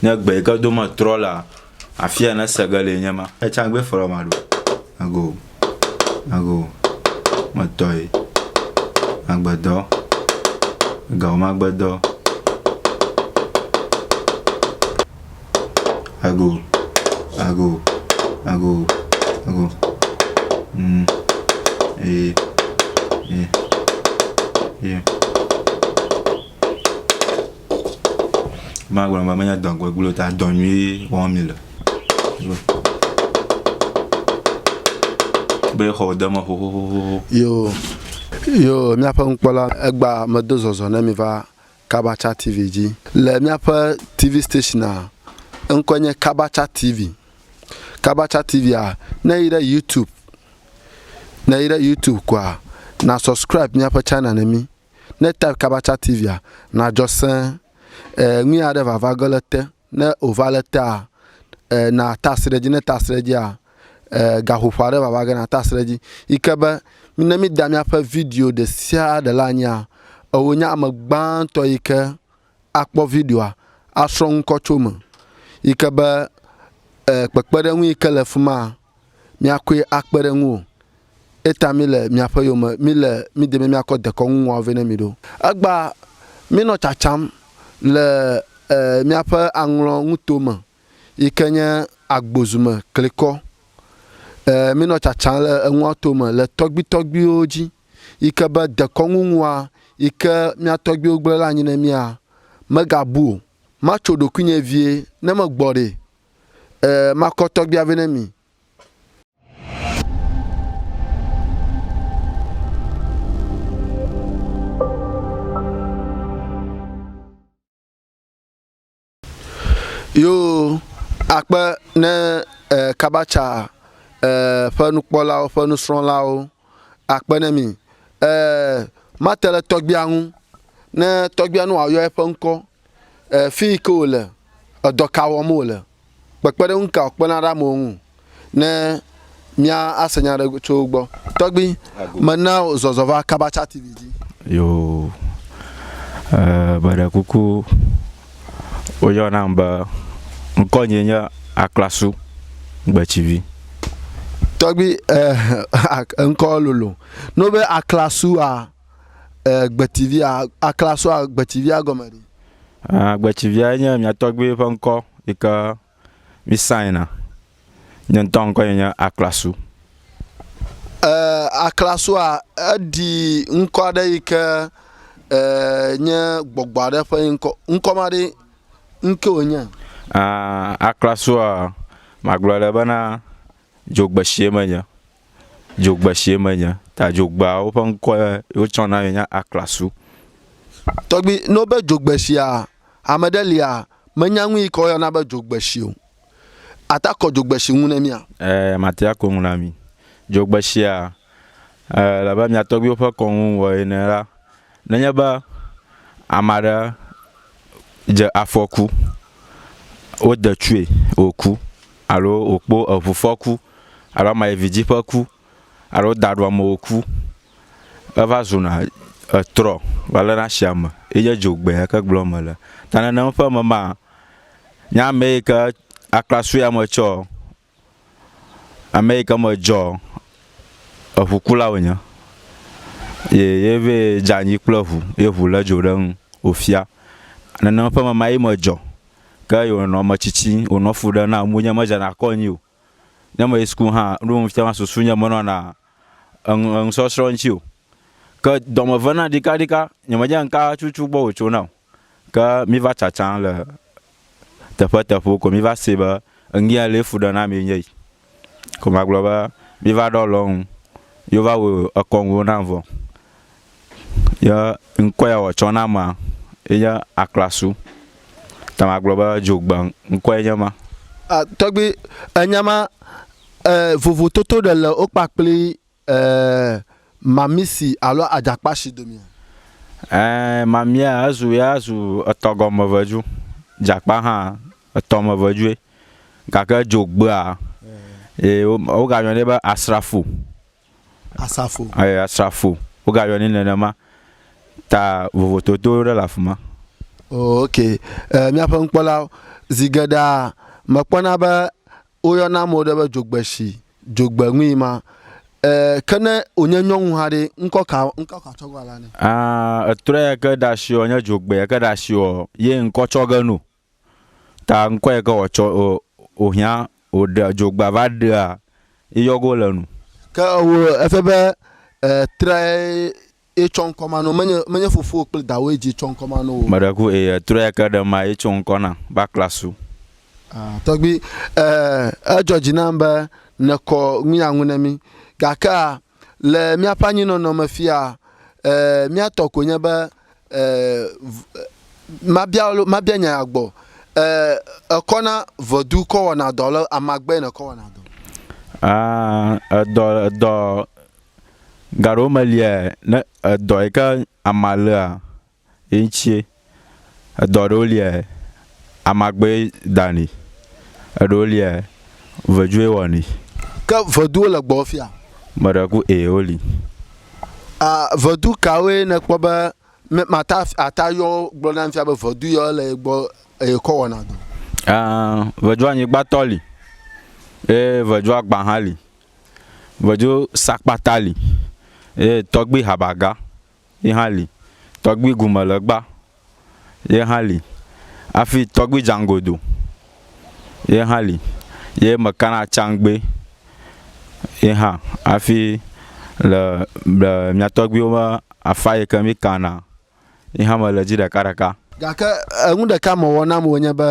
Ne gbe yike do me trɔ lea, afia ne se ge le nye ma. Etsã gbe fɔlɔ ma ɖo. Ago, ago, metɔe, magbedɔ, gawo magbedɔ. Ago, ago, ago, ago. Mm. E, e, e. Magblɔ be menye dɔ gbegblẽ o ta dɔ nyui wɔm mi le. Be xɔ de me xoxoxoxo. Yo, yo, míaƒe nukpɔla egba medo zɔzɔ ne mi va Kabacha TV dzi. Le míaƒe TV station'a, eŋkɔe nye Kabacha TV. Kabacha TV'a, ne èyi ɖe YouTube, ne èyi ɖe YouTube koa, na subscribe míaƒe channel ne mí. Ne type kaba tsa tivia na dzɔ se e nui aɖe vava ge le te ne ova le tea e na ta si ɖe dzi ne ta si ɖe dzia e gaƒoƒo aɖe vava ge na ta si ɖe dzi yi ke be ne mi da miaƒe video ɖe sia ɖe la nyia ewo nye ame gbãtɔ yi ke akpɔ videoa asrɔ ŋkɔ tso me yi ke be e kpekpeɖeŋu yi ke le fima míakoe akpe ɖe ŋuwò. Eyta míle miaƒe yome, míle mí deme míakɔ dekɔnu ŋua vɛ ne mi ɖo. Egbea mínɔ tsatsam le miaƒe aŋlɔ ŋuto me yike nye agbozu me klikɔ. Mínɔ tsatsam le eŋua to me le tɔgbuitɔgbuiwo dzi yike be dekɔnu ŋua yike mía tɔgbuiwo gblẽ ɖe anyi ne mía, megabu o. Matso ɖokuinye vie ne megbɔ ɖee. e, makɔ tɔgbia vɛ ne mi. Yo akpe ne e, kabatsa e, ƒe nukpɔlawo ƒe nusrɔ̃lawo akpe ne mi. E, mate le tɔgbia ŋu ne tɔgbia nu wòayɔ eƒe ŋkɔ. E, fi yi ke wòle, edɔ ka wɔm wòle, kpekpeɖeŋu ka wòkpena ɖe amewo ŋu ne mía ase nya ɖe tso wo gbɔ. Tɔgbi, mena wò zɔzɔ va Kabacha TV dzi. Yo, e, meɖe kuku, woyɔ nam be ŋkɔ nye nye Aklasu Gbetsivi. Tɔgbi, e, ŋkɔ lolo. Ne wobe Aklasu a, eh, gbetivia, aklasoa gbetivia gɔme ɖi? Ah, gbetivia nye mia tɔgbi ƒe ŋkɔ yi ke mi sign a. Nye ŋutɔ ŋkɔ nye nye aklasu. Eh, aklasoa eɖi ŋkɔ aɖe yi ke eh, nye gbɔgbɔ aɖe ƒe ŋkɔ. Ŋkɔ ma ɖe ŋke wònye? Ah, aklasoa magblɔ le bena dzogbesie menye. dzogbeshie menye. Ta dzogbeawo ƒe ŋkɔ ye wotsɔ na ye nye Aklasu. Tɔgbi, ne wobe dzogbeshia, ame ɖe lia menya nu yi ke woyɔna be dzogbeshi o. Ate akɔ dzogbeshi nu ne mía? Ɛɛ, mate ako nu na mi. Dzogbeshia, ɛɛ, elabe mia tɔgbiwo ƒe kɔnu wɔe ene la, Nenye be ame aɖe dze afɔku, wode tsɔe wòku alo wòkpɔ eŋufɔku alo ame yi vidzɛ̃ ƒe ku alo woda ɖo ame wòku, eva zuna etrɔ va lena asi ame yi nye dzogbee ya ke gblɔm mele. Ta nenem ƒe me maa, nye ame yi ke akpla sue ame tsɛɔ, Ame yi ke me dzɔ eŋukula wònye ye ye vɛ dze anyi kple eŋu ye eŋu lé dzo ɖe eŋu wòfia. Nene ƒe mama ye me dzɔ ke ye wònɔ ame tsitsi wònɔ fu ɖem na ŋunye medzena kɔ nyuie o. Ne meyi sukulu hã nu yi wofia ma susunye menɔna enu enusɔsrɔ̃ ŋuti o. Ke dɔme ve nam ɖekaɖeka nyemenya nu ka tutu gbɔ wòtso nam o. Ke míva tsatsam le teƒeteƒewo ko míva see be ŋkee lee fuɖenamee nye yi. Ko magblɔ be míva ɖɔ le wo ŋu ye wova wɔ ekɔnuwo nam vɔ. Ye ŋkɔ ya wòtsɔ na amea ye nye aklasu. Ta magblɔ be dzogbe ŋkɔe nye ma. Tɔgbui, enya ma vovototo ɖe le wo kpakpli Ẽ, mamisi alo adzakpashi domea? Ẽ, mamia ezu ya zu etɔgɔmevedu. Dzakpa hã, etɔmevedue. Gake edzo gbea, ye wogayɔnɛ be asrafo. Asrafo. Eye asrafo. Wogayɔnɛ nenema. Ta vovototo ɖe le afi ma. Oo, ok. Ẽ, míaƒe nukpɔlawo, zi geɖea mekpɔna be Woyɔna ame ɖe be dzogbeshi, dzogbeŋui ma. E, ke ne wònye nyɔnu hã ɖe, ŋkɔ ka ŋkɔ ka tsɔ gɔla nɛ? A, etrɔe ke ɖe asi ɔ, nye dzogbe ke ɖe asi ɔ, ye ŋkɔ tsɔ ge no. Ta ŋkɔ yi ke wòatsɔ ɔ, wòhiã wòɖea dzogbea va ɖea yɔgo le nu. Ke ewo efia be e trɔe Eye tsɔ ŋkɔ ma no, menye, menye fofowò kple dawòe dzi tsɔ ŋkɔ ma no o. Meɖe ku eye etrɔ ya ke ɖe ma ye tso ŋkɔ na ba klasu. Ah, tɔgbui, eh, edzɔ dzi nam be nèkɔ ŋuya ŋu ne mí. Gakea, le míaƒe anyinɔnɔ me fia, eh, mía tɔ ko nye be, eh, eh, mabia, mabia nya ya gbɔ. Eh, èkɔ na ʋedu kɔ wɔna dɔ alo amagbae nèkɔ wɔna dɔ? Ah, edɔ, edɔ. Gaɖewo me lia ne edɔ yi ke amea léa ye ŋutie. Edɔ ɖewo lia amea gbee danɛ. Eɖewo lia veduwoe wɔnɛ. Ke veduwo le gbɔwò fia? Meɖe ku ee woli. A, vedu kawoe nèkpɔ be me, mata, ate ayɔ wo gblɔ nam fia be vedu yawo le ye gbɔ eye kɔ wɔna dɔ? A, vedu anyigbatɔ li eye vedu agbã hã li. Vedzo sakpata li eye tɔgbi habaga ye hã li. Tɔgbi gumelegba ye hã li hafi tɔgbi dzaŋgodo ye hã li ye mekana tsãgbe ye hã hafi le le mia tɔgbiwo ƒe afa yi ke mikana ye hã mele edzi ɖekaɖeka. Gake enu ɖeka mewɔ nam wònye be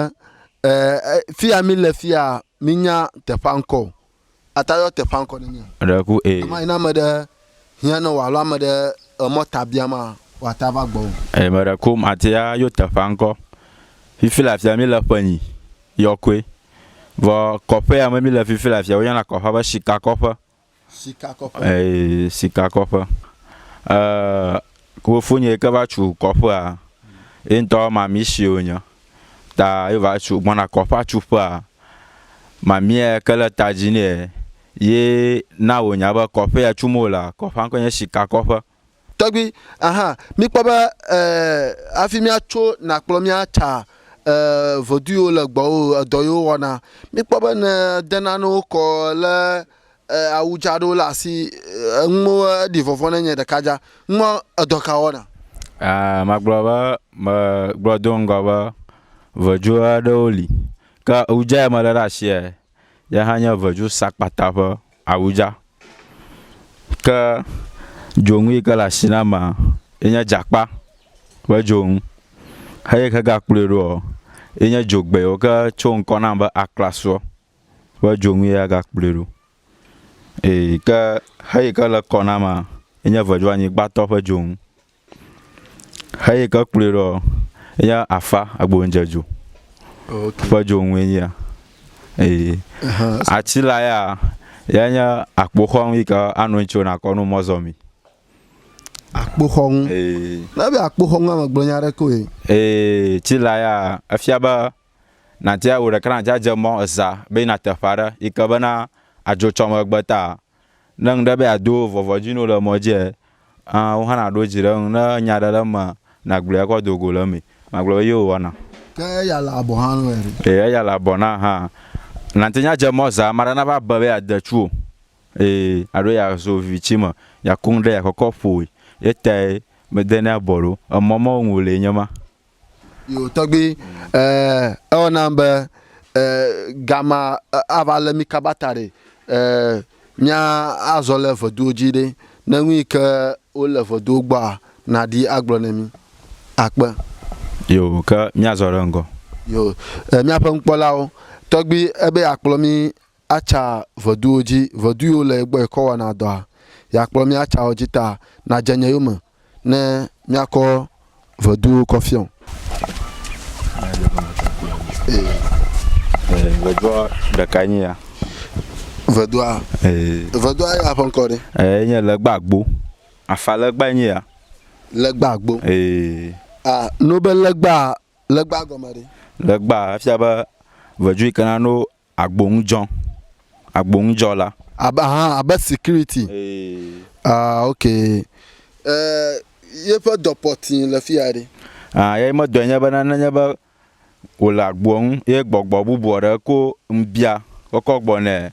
e e fi ya mile fiaa minya teƒea ŋkɔ o. Atayɔ teƒea ŋkɔ ne mía. Ɖe ku ee. Ɣemaɣi ne ame ɖe hiã ne wò alo ame ɖe emɔ ta biam maa, wòate ava gbɔwò. Eye me ɖe ku mate ayo teƒea ŋkɔ. Fifi le afia mí le ƒe nyi yɔkoe. Vɔ kɔƒe ya me mí le fifi le afia woyɔna kɔƒea be sika kɔƒe. Sika kɔƒe. Eye sika kɔƒe. E, ku fofonye ke va cu kɔƒea. Ye ŋutɔ mami si wonye. ta ye va tsu gbɔna kɔ ƒe atsuƒea, mamea ke le ta dzi nɛ ye na wònya be kɔƒe ya tsum wolea, kɔƒea ŋkɔe nye Sikakɔƒe. Tɔgbui, Aha, míkpɔ be e, hafi míatso nàkplɔ mía tsa e, vodui yewo le gbɔwò, edɔ yewo wɔna. Míkpɔ be nèdena nawo kɔ le awu dza ɖewo le asi enuwo eɖi vɔvɔ ne nye ɖeka dza ŋmɔ edɔ ka wɔna. Aa magblɔ be me gblɔ do ŋgɔ be vedzo aɖewo li ke awu dza ya me le ɖe asia ya hã nye vedzo sakpata ƒe awu dza ke dzonu yi ke le asi na ma ye nye dzakpa ƒe dzonu heyi ke ga kplɔe ɖoa ye nye dzogbewo ke tso ŋkɔ nam be aklasoa. be dzonu ye agakplɔe ɖo. Eyi ke xeyi ke le kɔ na ma enye veduanyigbatɔ ƒe dzonu. Xeyi ke kplɔe ɖoa enye afa agbonudzedzo ƒe dzonu ye nyia. Eye atsi la ya ye nye akpoxɔnu yi ke anɔ anyi tso nakɔ nu mɔzɔmi. Akpoxɔnu. Ee. Ne be akpoxɔnua megblɔ nya ɖe koe. Ee tsi la ya efia be Nàdi wò ɖeka nàdzadze mɔ zã be yina teƒe aɖe yi ke bena adzo tsɔ megbe ta. Ne ŋu ɖe be yeado vɔvɔ dzi nɔ le mɔ dzia, aa wò hã nàɖo dzi ɖe eŋu. Ne nya ɖe le emea, nàgblɔe akɔ do go le eme. Magblɔ be yeo wɔna. Ke eya le abɔ hã nɔe ɖe? Ee, eya le abɔ na hã. Nàte ŋu adze mɔ zã ame aɖe nava be be yeade tsu wò. Ee, alo yeazo viviti me, yeaku nu ɖe, yeakɔkɔ ƒo wòe. Ye tae medenɛ abɔ ɖo. Emɔ mawo ŋu wòlee nye ma. Yo, tɔgbui, eh, ewɔ nam be, eh, gama eh, ava le mi kaba ta ɖe, eh, mía azɔ le ʋeduwo dzi ɖe, ne nu yi ke wole ʋeduwo gbɔa, nàɖi agblɔ ne mi. Akpe. Yo, ke míazɔ ɖe ŋgɔ. Yo, eh, míaƒe nukpɔlawo, tɔgbui, ebe yeakplɔ mi Atsa ʋeduwo dzi, ʋedu yiwo le ye gbɔ yekɔ wɔna dɔa, yeakplɔ mí atsa wo dzi ta, nadze nye yome ne míakɔ ʋeduwo kɔ fiɔ. Ʋedua ɖekae nye ya. Ʋedua? Ee. Ʋedua ya ƒe ŋkɔ ɖe? Ee, nye Legbagbo. Afa legbae nye ya. Legbagbo? Ee. A, no be legba, legba gɔme ɖe? Legba efia be ʋedu yi ke na no Agboŋudzɔ, agboŋudzɔla. Abe aha abe security. Eeee. Ah ok. E yeƒe dɔ pɔ tĩi le fiya ɖe? Ah eya medɔe nye be ne nye be wòle agboa ŋu ye gbɔgbɔ bubu aɖe ko ŋbia kɔkɔ gbɔ nɛ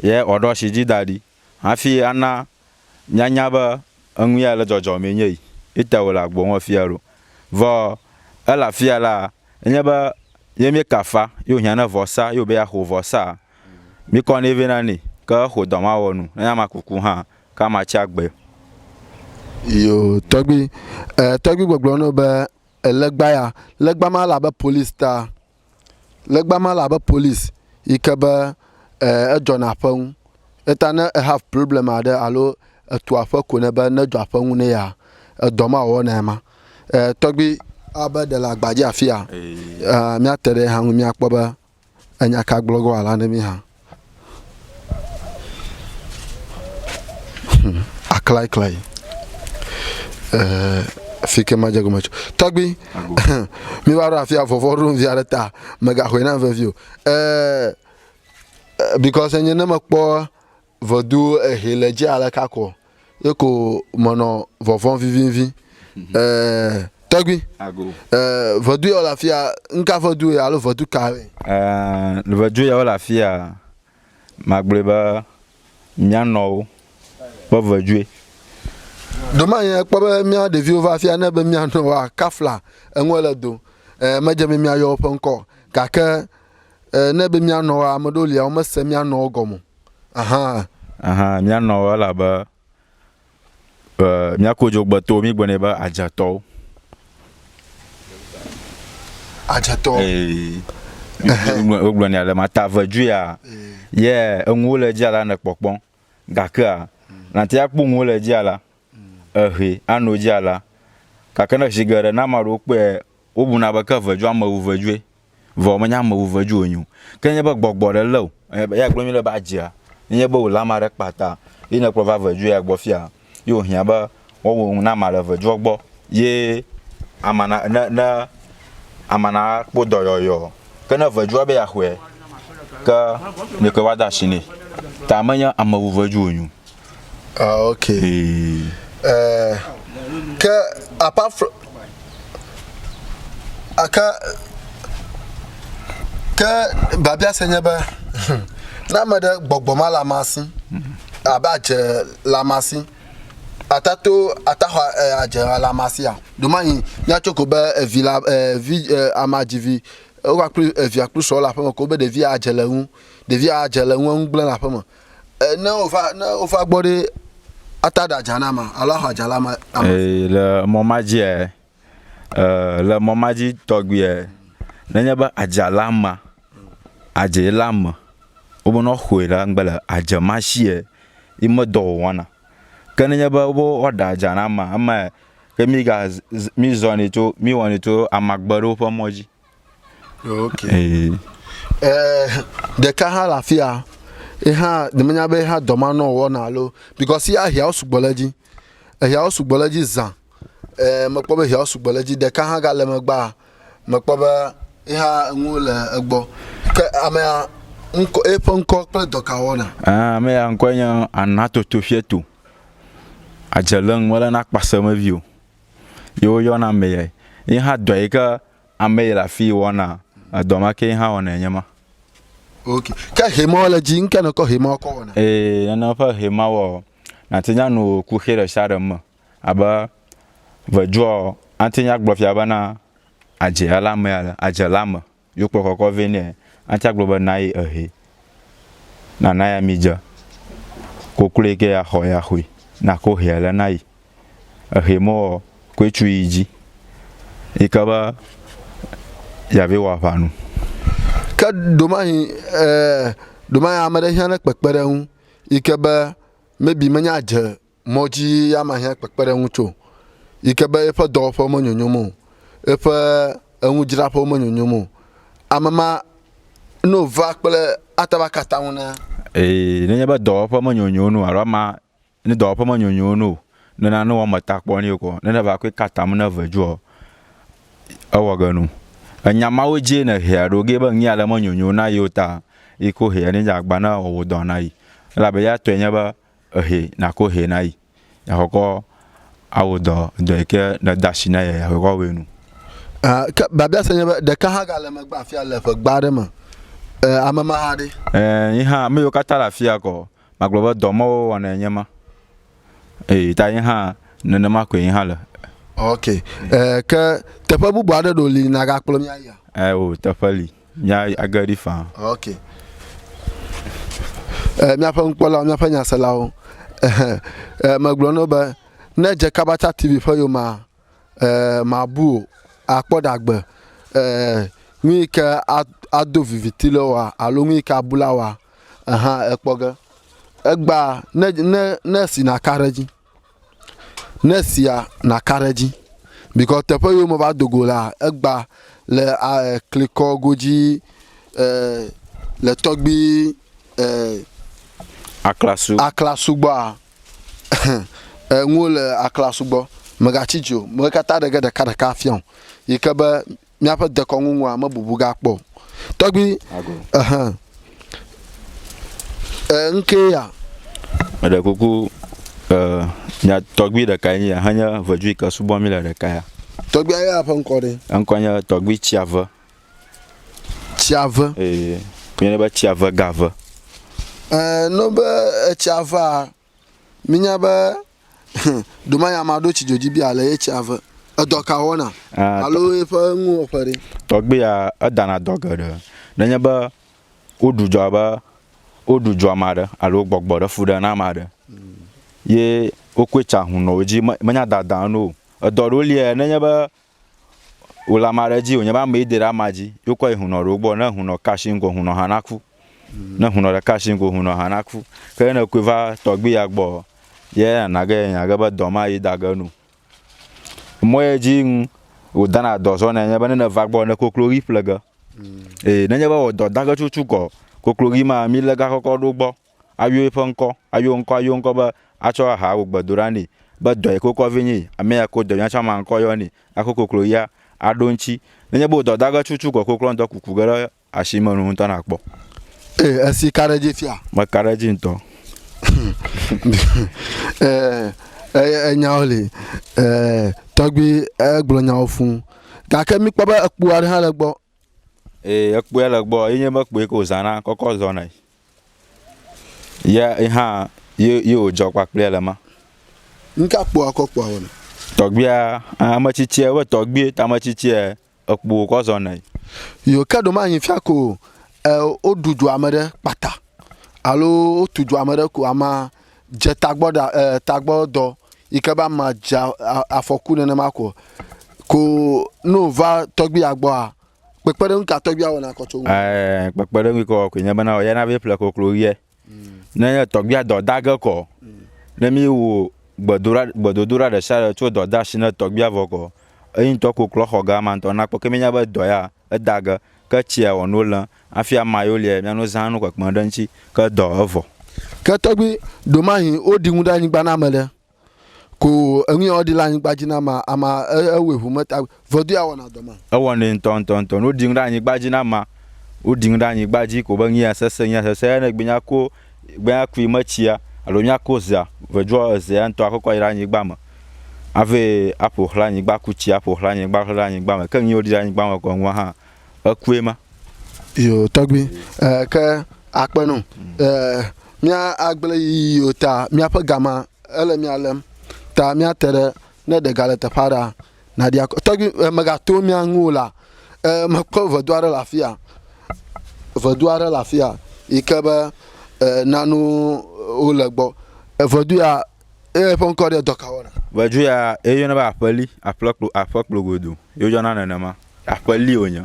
ye wòaɖo asi dzi da ɖi hafi ana Mìanya be enu ya le dzɔdzɔm enye yi eta wòle agbo ŋu afia ɖo. Vɔ ele afia la, enye be ye míekafa ye wòhiã ne vɔsa ye wòbe yeaxo vɔsaa, míkɔ nɛ vɛ na nɛ. Ke exo dɔ ma wɔ nu. Ne ame aku ku hã, ke amea tsi agbe. Yo, tɔgbui. E, tɔgbui gbɔgblɔ na wo be, Legba ya, legba ma le abe polisi ta. Legba ma le abe polisi yi ke be eh edzɔna aƒe ŋu. Eyata ne e have problem aɖe alo etu aƒe ko ne be ne edzɔ aƒe ŋu ne yea, edɔ ma wɔwɔnae ma. Eh tɔgbi abe ɖe le agbadzi afia, eh míate ɖe ye hã ŋu míakpɔ be enya ka gblɔ ge wòala na mí hã. aklaiklai eh, fi ke madze gome tso tɔgbi mi va ɖo afi avɔvɔ ɖo via ɖe ta megaxɔe na vevi o eh, eh, because enye ne mekpɔ vɔdu ehe le dzi ale kakɔ ye ko menɔ vɔvɔm vivinvi. Ɛɛ, tɔgbi. Ago. Ɛɛ, vedu yawo le afi ya, nu ka vedu ye alo vedu ka ye? Ɛɛ, vedu yawo le afi ya, magblɔe be mía nɔwo ƒe vedue. Domanye ekpɔ be mía ɖeviwo va afi ya ne be mía nɔwoa, kafla eŋue le do. Ɛɛ, medze be míayɔ woƒe ŋkɔ o. Gake ɛɛ, ne be mía nɔwoa, ame ɖewo lia, womese mía nɔwo gɔme o. ahan. Ahan, míanɔ wo elabe e, míaku dzogbetɔwo, míegblɔ nɛ be adzetɔwo. Adzetɔ. Ee, wogblɔ nɛ ale ma ta veduia. Ye enuwo le dzia la nekpɔkpɔ, gakea, nàte akpɔ nuwo le dzia la. Ehee, ano dzi alea. Gake ne zi geɖe ne ame aɖewo kpɔe la, wobuna be ke vedu ame wu vedue. Vɔ menye ame wu vedu wònye o. Ke ne enye be gbɔgbɔ aɖe lé wò, eya gblɔ nyuie ɖe be adzea, ne enye be wòlé ame aɖe kpata ye nèkplɔ va vedu ya gbɔ fiaa, ye wòhiã be woawɔ nu na amea le vedua gbɔ ye amea na, ne, ne amea nakpɔ dɔyɔyɔ. Ke ne vedua be yeaxɔe, ke ɖeko woade asi nɛ. Ta menye ame wu vedu wònye o. Ah, ok. Eh, ke apart from aka ke babia se nye be ne ame ɖe gbɔgbɔ ma la masi abe adze la masi ata to ata xɔ eh, adze la masia domanyi míatso ko be evi la eh, vi eh, ama dzivi wova kple evia kple srɔ̃ le aƒeme ko be ɖevia adze le ŋu ɖevia adze le ŋu eŋu gblẽ le aƒeme Ne wova ne wova gbɔ ɖe ata ɖe adza na ma alo axɔ adza la ma. Ee le mɔ ma dzi ɛ le mɔ ma dzi tɔgbi ɛ nenye be adza la ma adze la me wobe nɔ xɔe la ŋgbe le adze ma shi ɛ yi me dɔ wɔna. Ke nenye be wo ɖa adza na ma ema ɛ ke mi ga mi zɔnɛ tso mi wɔnɛ tso amagbeɖewo ƒe mɔ dzi. ok eh. eh, ɖeka hã le afi ya ye hã nyemenya be hã dɔmanɔ wɔna alo because ya ehiawo sugbɔ le edzi ehiawo sugbɔ le edzi zã eh, mekpɔ be ehiawo sugbɔ le edzi ɖeka hã gale megbea mekpɔ be ye hã enu le egbɔ ke amea ŋkɔ eƒe ŋkɔ kple dɔka wɔna. Ah, ame ya ŋkɔe nye Anatoto Fieto. Adze le ŋu mele na kpaseme vi o. ye woyɔna amee. Ye hã dɔ yi ke ame yi le afii wɔna, edɔ ma ke ye hã wɔnɛ nye ma. Ok. Ke hɛma wɔ le dzi ŋke ne kɔ hɛma kɔ wɔna. Ee, nene ƒe hɛma wɔ nate nya nu kuxi ɖe sia ɖe me abe veduɔ, ate nya gblɔ fia bena adze ale amea le adze le ame. Yo kplɔ kɔkɔ vɛ nɛ atsã gblɔ be nayi ehe nana ya mi dze koklo yi ke ya xɔ ya xui na ko hea le na yi ehe mɔ ɔ koe tsu yi dzi yi ke be ya vɛ wɔ aʋa nu. Ke domahi e domahi ame ɖe hiã ne kpekpe ɖe eŋu yi ke be maybe menya dze mɔ dzi ya ma hiã kpekpeɖeŋu tso, yi ke be eƒe dɔwɔƒewo menyonyom o, eƒe eŋudzraƒewo menyonyom o. Ame ma ne wòva kple ate ŋu aka atam na. Ee, nenye be dɔwɔƒe menyonyo nu alo amea ne dɔwɔƒe menyonyo nu o, ne nane wɔ emetakpɔ nɛ ko, ne neva koe ka atam na eve dzoa, ewɔ ge nu. Enya mawo dzie nèhea ɖo ge be nu ya le menyonyo na yeo ta yi ke wohea ne dze agbagba ne wòawɔ dɔ na yi. Elabe eya tɔe nye be Ehɛ nako hɛ nayi yakɔkɔ awo dɔ dɔ yike ne dasi na yɛ yakɔkɔ awɛ nu. Ke biabia se nye be ɖeka hã gale megbe afia le ƒe gba aɖe me e ame ma hã ɖe? E yi hã ame yiwo katã le afia kɔ magblɔ be dɔ mawo wɔnae nye ma eyi ta yi hã nenema koe yi hã le. Ok e ke teƒe bubu aɖe ɖo li nagakplɔ mía yia? E o teƒe li. Nya age ɖi faa. Ok. E, míaƒe nukpɔlawo, míaƒe nyaselawo. Ehe. E, megblɔ no be ne dze Kabatsa TV ƒe yomea, e, mabu o, akpɔ ɖagbe. E, nu yi ke ado viviti le wa alo nu yi ke abu la wa, eha ekpɔ ge. Egba ne ne ne si naka ɖe edzi. Ne sia naka ɖe edzi bikɔ teƒe yiwo me va do go la egba le eh, klikɔ godzi eh, le tɔgbi eh, aklasu aklasu gbɔa enuwo le aklasu gbɔ megatsi dzo me katã ɖege ɖeka ɖeka afiã yi ke be míaƒe dekɔnu ŋua mebubu gakpɔ o. Tɔgbi, ɛhɛ, e, ŋkee ya. Meɖe kuku, e, mia tɔgbi ɖekae nye ya henye vedu yi ke subɔ mí le ɖeka ya. Tɔgbia ya ƒe ŋkɔ ɖe? Eŋkɔ nye Tɔgbi Tsiave. Tsiave? Ee, míeyɔnɛ be Tsiave Gave. Ɛɛ, ne wonye be Etsiavea, Minya be domanya ma ɖo tsi dzodzi bia le ye tsia ve. Edɔ ka wɔna ah, alo eƒe nuwɔƒe ɖe? Tɔgbia edana dɔ geɖe. Nenye be woɖu dzoa be woɖu dzoa ma ɖe alo gbɔgbɔ ɖe fu ɖe na ma ɖe. Ye wokɔe tsa hunɔwo dzi menya dada nu o. Edɔ ɖewo lia nenye be Wòle ame aɖe dzi wònye be amee de ɖe amea dzi ye wokɔ yi hunɔ ɖewo gbɔ. Ne hunɔ ka asi ŋgɔ, hunɔ hã naku. Ne hunɔ ɖeka asi ŋgɔ, hunɔ hã naku. Ke ne ekɔe va tɔgbui ya gbɔ, ye nana ge yenya ge be dɔ ma ye da ge nu. Mɔ ye dzi ŋu wòdana dɔ zɔnɛ nye be ne neva gbɔ ne kokloʋi ƒle ge. Eye nenye be wɔ dɔ da ge tutututuɔ, kokloʋi ma mi le gakɔkɔ ɖewo gbɔ. ayɔ eƒe ŋkɔ, ayɔ ŋkɔ, ayɔ ŋkɔ be atsɔ aha wò gbedoɖa nɛ be dɔ yi ke wokɔ vɛ nye yi. Ame ya ko dɔ nya tsã ma ŋkɔ yɔ nɛ axɔ koklo ya aɖo eŋuti. Nenye be wò dɔ dage tutu ko koklo ŋdɔ kuku ge ɖe asi me nu ŋutɔ nakpɔ. Ee, esi ka ɖe edzi fia. Meka ɖe edzi ŋutɔ. Ee, enyawo li. Ee, tɔgbui egblɔ nyawo fũ. Gake mikpɔ be ekpo aɖe hã le gbɔ. Eeee ekpoe le gbɔ ye nye be kpoe ke wòzãna kɔkɔ zɔnae. Ya ye hã ye ye wòdzɔ kpakple le ma. Nu ka kpoa kɔ kpoa wɔna? Tɔgbuia, ame tsitsia be tɔgbui ta ame tsitsia ekpo wòkɔ zɔnae. Yo ke ɖo manyi fia ko e woɖu dua me ɖe kpata alo wotu dua me ɖe ko ama dze tagbɔ ɖa e tagbɔ dɔ yi ke be ama dze afɔku nenema ko ko ne wòva tɔgbuia gbɔa kpekpeɖeŋu ka tɔgbuia wɔna kɔ tso ŋu. Ɛɛ kpekpeɖeŋu kɔ koe nye bena ɔyana be ƒle koklo ʋiɛ. Ne nye tɔgbuia dɔ da ge kɔ ne mi wo gbedoɖa gbedodoɖa ɖe sia ɖe tso dɔdasi ne tɔgbuia vɔ kɔ eyi ŋutɔ kokloa xɔ ga ma ŋutɔ nakpɔ ke mi nya be dɔ ya. Eda ge, ke tsia wɔ no le afi ama yo liɛ mia no zan no kpekpeŋ ɖe ŋtsi ke dɔ evɔ. Ke tɔgbi ɖomahi wo ɖi ŋu ɖe anyigba na ameɖe ko o, eŋu ya wo ɖi le anyigba dji na ama, ama e ewɔɛ ŋu me ta vɔdu ya wɔna dɔ ma. Ewɔ nɛ ŋtɔ ŋtɔ ŋtɔ, no ɖi ŋu ɖe anyigba dji na ama, wo ɖi ŋu ɖe anyigba dji ko be ŋu ya sese, ŋu ya sese, eya ne gbe nya ko. Gbea kui metsia alo miako zea vedzoa ezea ŋutɔ akɔkɔ ayi ɖe anyigba me ave aƒo xlã anyigba aku tsia aƒo xlã anyigba aƒo xlã anyigba me ke nu yiwo ɖi ɖe anyigba me gɔme gɔme hã ekue ma. Yo tɔgbi e ke akpe no e mía agble yiyiwo ta mía ƒe gama ele mía lem ta mía te ɖe ne ɖe gale teƒe aɖea Naɖi akɔ. Tɔgbi eh, megato mia ŋu o la, eh, mekpɔ vedu aɖe le afia. Vedu aɖe le afia yi ke be eh, nanu wole gbɔ. Evedu ya eye ƒe ŋkɔ ɖe dɔkawɔna. Vedu ya eyɔna be aƒeli, aƒlekplo, aƒekplogodo. Yeyɔna nenema. Aƒeli wònye.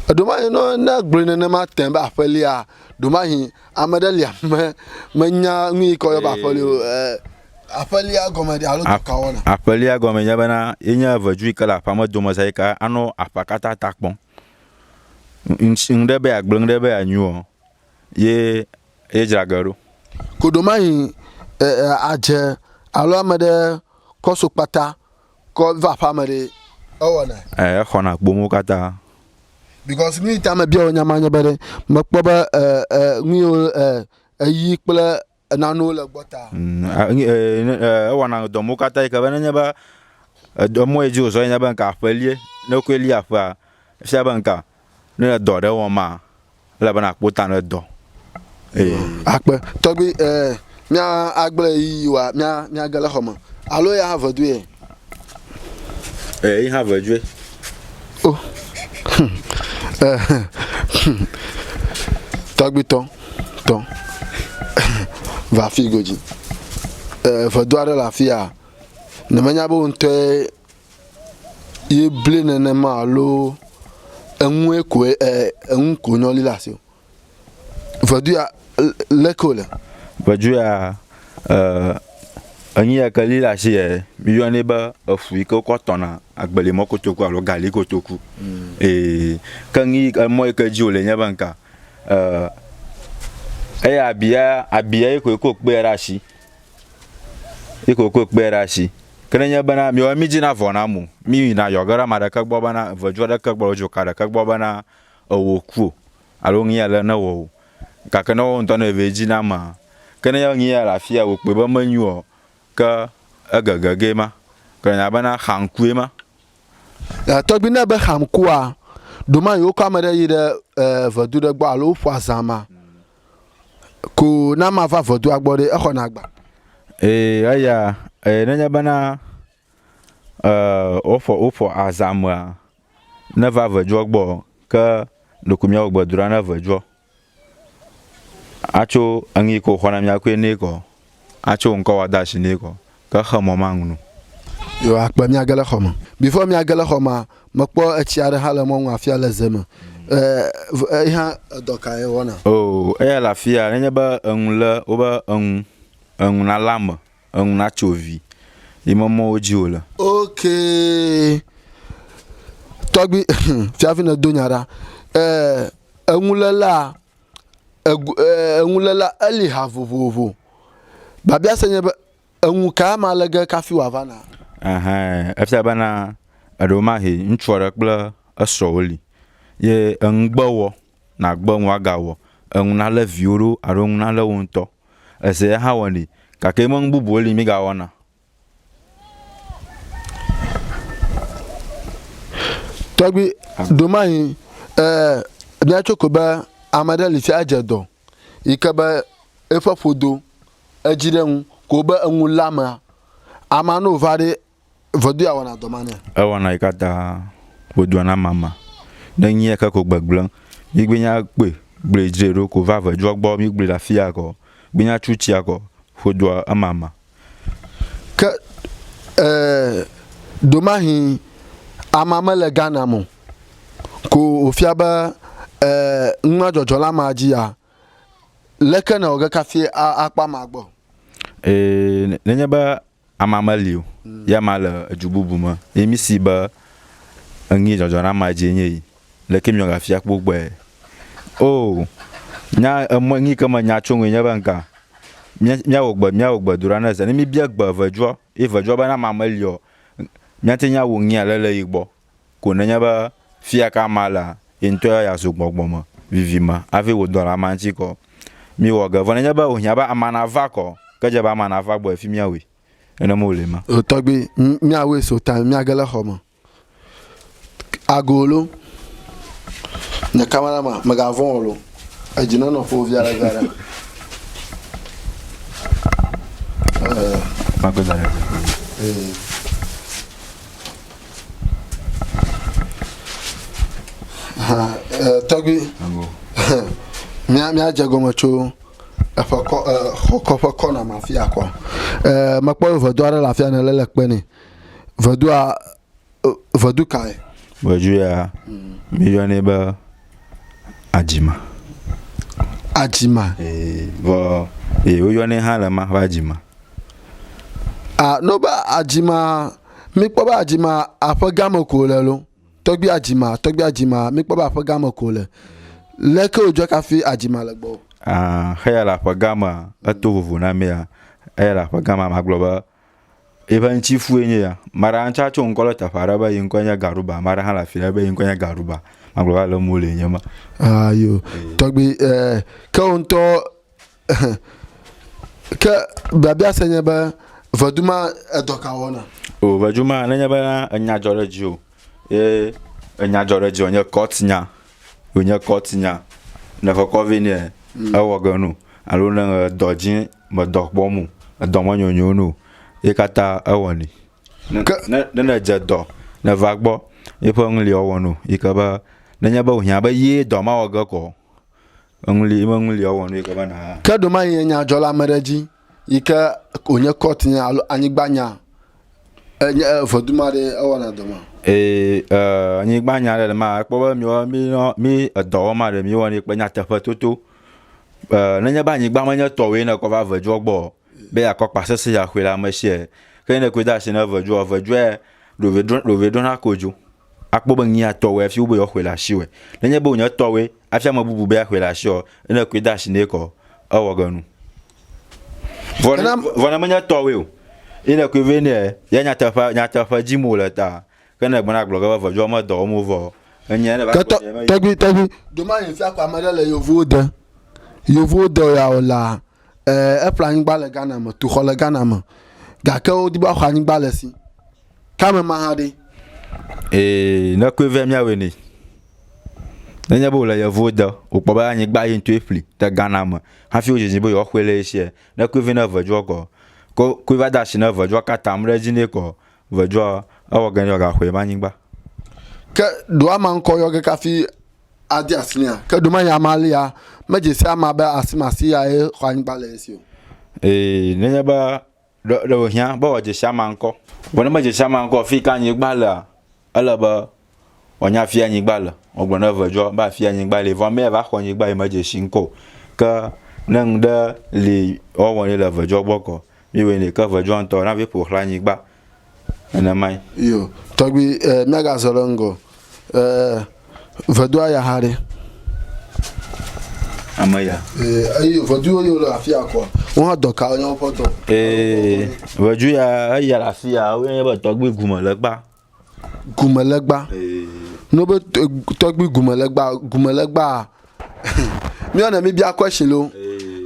Ɖomahi no ne gblɔe nenema tẽ be aƒelia, ɖomahi ame ɖe lia me menya nu yi ke yɔ be aƒeli o. Eh, Aƒelia gɔme ɖe alo dɔka wɔna. Aƒelia gɔme nye bena ye nye evedzu yi ke le aƒea me domeza yi ke anɔ aƒea katã ta kpɔm. Ŋɖe be yeagblẽ ŋɖe be yeanyo ɔ, ye ye dzra ge ɖo. Koɖomayi adze alo ame ɖe kɔ so kpata kɔ va aƒea me ɖe ewɔna. Ɛ exɔna kpom wo katã. Because nu yi ta me bia wò nya ma nye be ɖe mekpɔ be ɛ ɛ nu yi wo ɛ eyi kple Ena nuwo le gbɔ ta. Mm, ewɔna dɔ mo katã yi ke be nenye be edɔ mɔ edzi wòzɔ nye be nka aƒelie ne wokɔe li aƒea efia be nka ne le dɔ ɖe wɔm ma ele be nakpɔ ta ne dɔ. Akpe tɔgbi agble yi wa mia mia gele xɔme alo ya ave du ye. Eh, ich habe Jwe. Oh. Tagbi tɔn, tɔn. Va fi godzi. Eh, vedo aɖe le afi ya. Ne menya be ŋutɔe ye ble nenema alo enue koe eh, enu ko nyɔli le asi o. Vedu ya leke wòle? Vedu ya enyi ya ke li ɖe asi yɛ miyɔnɛ be efu yi ke wokɔ tɔna agbelimɔ kotoku alo gali kotoku. Ee. Ke nu yi ke emɔ yi ke dzi wòle nye be ŋka eya abia abia ye koe ko kpeɛ ɖe asi. Ye koe ko kpeɛ ɖe asi. Ke ne enye bena miyɔ mí dzina vɔ na ame o. Mí yina yɔ ge ɖe ame ɖeke gbɔ bena vedu ɖeke gbɔ alo dzoka ɖeke gbɔ bena ewò ku o alo nu ʋi aɖe newɔ o gake ne woawo ŋutɔ ne eve edzi na amea, ke ne nu ʋia le afia wòkpɔe be menyo o ke egege gee ma. Gblɔna bena xamkue ma. Tɔgbi ne be xamkua, ɖomayi wokɔ ame ɖe yi ɖe vedu ɖe gbɔ alo woƒo azã ma ko ne amea va vedua gbɔ ɖe exɔna agba? Ee, eya, nenye bena woƒo azã mea. Ne va ʋedzua gbɔ ɔ, ke ɖeko mìawɔ gbedoɖa ne ʋedzua atso eŋ yi ke wòxɔ na mìa koe nɛ kɔ atso ŋkɔ wa da shi nɛ kɔ. Ke xe mɔ ma ŋnu. Yo akpe mìage le xɔme. Before mìage le xɔma, mekpɔ etsi aɖe hã le mɔ ŋu afia le ze me. E, eyi hã edɔ kae ewɔna? Oo, eya le afia nenye be eŋu le wobe eŋu, eŋu nale ame eŋu na tso vi yi me mɔwo dzi wòle. Ok. Tɔgbi, fiafi ne do nya ɖa. Eh, enulela, eh, enulela eli ha vovovo. Babia se nye be, enu ka ma le ge kafi wa va na? Ahã, efia be na, eɖo ma he, ŋutsu aɖe kple esrɔ wo li. Ye eŋugbe wɔ, na gbe ŋua ga wɔ, eŋu na le viwo ɖo, aɖo eŋu na le wo ŋutɔ. Ese ya hã wɔnɛ, gake mɔ nu bubuwo li mígawɔna. Tɔgbi, ɖomahi e, míatso ko be ame ɖe li si adze dɔ yi ke be eƒe ƒodo edzi ɖe ŋu ko be eŋu lé amea. Amea ne wòva ɖe Vodua wɔna dɔ ma nɛ. Ewɔna yi katã vodua na mama. Ne nyia ke ko gbegblẽ, mi gbe nya kpɔe gblɔe dzre ɖo ko va ve dzɔ gbɔ mi gblɔe le afia kɔ. Gbe nya tsu tsia kɔ vodua emama. Ke e domahi ama me le Ghana mo ko o fia be e nua dzɔdzɔ la ma dzi ya. Leke na o ge kafi a akpɔ ama gbɔ? E ne nye be Ama meli o, yi ama le edu bubu me, yi mi si be eŋi dzɔdzɔ na ama dzie nye yi, leke miɔ ga fia kpo gbɔe? O, nya eme ŋi ke me nya tso ŋui nye be ŋka, mia, mia wɔ gbe, mia wɔ gbe do ɖa ne ze, ne mi bia gbe eveduɔ, yi eveduɔ be ne ama meli ɔ, mia te ŋi awu ŋi ale le yi gbɔ. Ko nenye be fia ka ma lea, ye ŋutɔ ya zu gbɔgbɔ me vivi me hafi wò dɔla ma ŋuti kɔ. Miwɔ ge, vɔ nenye be wòhiã be amea nava kɔ, ke dze be amea nava gbɔe fi míawui. Nenem wòle ema. O tɔgbui, míawɔe so ta míage le xɔ me. Ago lo, nye kamarama, mègavɔ̃ o lo, edzi nenɔ ƒo via ɖe via ɖe. Ee. Makpe da ɖe. Ee. tɔgbi míadze gɔme tso eƒe kɔ xɔkɔ ƒe kɔna ma fia kɔ mekpɔ vedu aɖe le afia ne le le kpe ne vedua vedu kae vedu ya miyɔnɛ be adzima adzima ee vɔ ee woyɔnɛ hã le ma ƒe adzima a no be adzima Mikpɔ be adzima aƒe gã me ko wòle lo. Tɔgbui adzima, tɔgbui adzima, mikpɔ be aƒe gã me ko wòle. Lé ke wòdzɔ kafi adzima le gbɔwò. Ah, heya le aƒe gã mea, eto vovo na mea. Eya le aƒe gã mea, magblɔ be eƒe ŋutifue nye ya. Ame aɖe hã tso ŋkɔ ɖe teƒe aɖe be ye ŋkɔe nye Garuba. Ame aɖe hã le afi aɖe be ye ŋkɔe nye Garuba. Magblɔ be ale wole enye ma. Ah, yo. Tɔgbui, eh, ke wò ŋutɔ Ke biabia se nye be vedu ma edɔ ka wɔna? O vedu ma nenye be enya dzɔ ɖe dzi o ye enya dzɔ ɖe dzi o nye kɔt nya o nye kɔt nya ne ƒe kɔ vɛ nɛ mm. ewɔ ge no alo ne dɔ dzi me dɔ kpɔ mu edɔ me nyonyo no ye kata ewɔ ni ne ne ne dze dɔ ne va gbɔ ye ƒe ŋli ɔwɔ no yi ke be nenye be o hiã be ye dɔ ma wɔ ge kɔ Eŋli me ŋli ɔwɔ nu yike be na. Ke ɖoma yi nye nya dzɔ le ame ɖe dzi yike wònye kɔt nya alo anyigba nya enye vɔdu ma ɖe ewɔ na dɔ ma. Ee, eh, anyigba nya ɖe ma ekpɔ be mi wɔ mi nɔ mi edɔ wɔ ma ɖe mi wɔ ne kpe nyateƒe toto. Eh, ne nye ba anyigba me nye tɔ wɔ ne kɔ va vedzɔ gbɔ be ya kɔ kpa sese ya xwe la me sie. Ke ne kwe da si ne vedzɔ vedzɔe ɖo ve ɖo ɖo ve ɖo na ko djo. Akpɔ be ŋee atɔ wɔe hafi wobe yewoaxɔe le asiwɔe. Nenye be wònye etɔ wɔe hafi ame bubu be yeaxɔe le asiwɔe ɔ, ne èkɔe de asi nɛ kɔ ɔ, ewɔ ge nu. Vɔ ne, vɔ ne menye etɔ wɔe o ye nèkɔe vɛ nɛ ya nyateƒea, nyateƒe dim wòle ta ke ne ègblɔna agblɔ ge be eveviwo me dɔ wɔm wovɔ ɔ, enyia ne va Ke kpɔ tɔ, be yemeyi o. tɔgbui, tɔgbui, ɖo mayi ŋfia ko ame ɖe le yevuwo de, yevuwo dɔ ya o laa. Ɛɛ, eƒle anyigba le Ghana me, tu xɔ le Ghana me, gake wodi be woaxɔ anyigba le si. Ke ame ma hã ɖe? Ee, ne koe vɛ míawɔe nɛ. Nenye be wòle yevuwo de, wòkpɔ be anyigba ye ŋutɔe ƒli le Ghana me hafi wodzidzi be yewoaxɔe le ye sia, ne koe vɛ ne evedzoɔ kɔ, ke koe va de ashi na evedzoa ke atam ɖe edzi nɛ kɔ, vedzoa, ewɔ ge ne yeagaxɔe be anyigba. Ke ɖo ama ŋkɔ yɔ ge kafi ade asi nɛa? Ke ɖomanye ame alea medze si amea be asimasi yae xɔ anyigba le esi o. Ee, nenye be ɖe, ɖe wòhiã be wòadze si amea ŋkɔ. Vɔ ne medze si amea ŋkɔ o, fiyike anyigba lea, ele be wòanya afie anyigba le. Wogblɔ na eveawo be afie anyigba le. Vɔ amea va xɔ anyigba yi medze si ŋkɔ o. Ke ne ŋɖe li woawɔ nɛ le eveawo gbɔ kɔ, Míewɔe nɛ ke ʋedzɔa ŋutɔ na vie ƒo xlã nyigba nenemae. Yo, tɔgbi e, míagazɔ ɖe ŋgɔ. E, vedoa ya hã ɖe. Ame ya. E, eyi veduwo yiwo le afia kɔ. Wo hã dɔ ka nye woƒe dɔ. E, vedu ya eya le afia, wo nye be tɔgbi gume le kpa. gumelegba no be tɔgbi gumelegba gumelegba míɔ ne mi bia question lo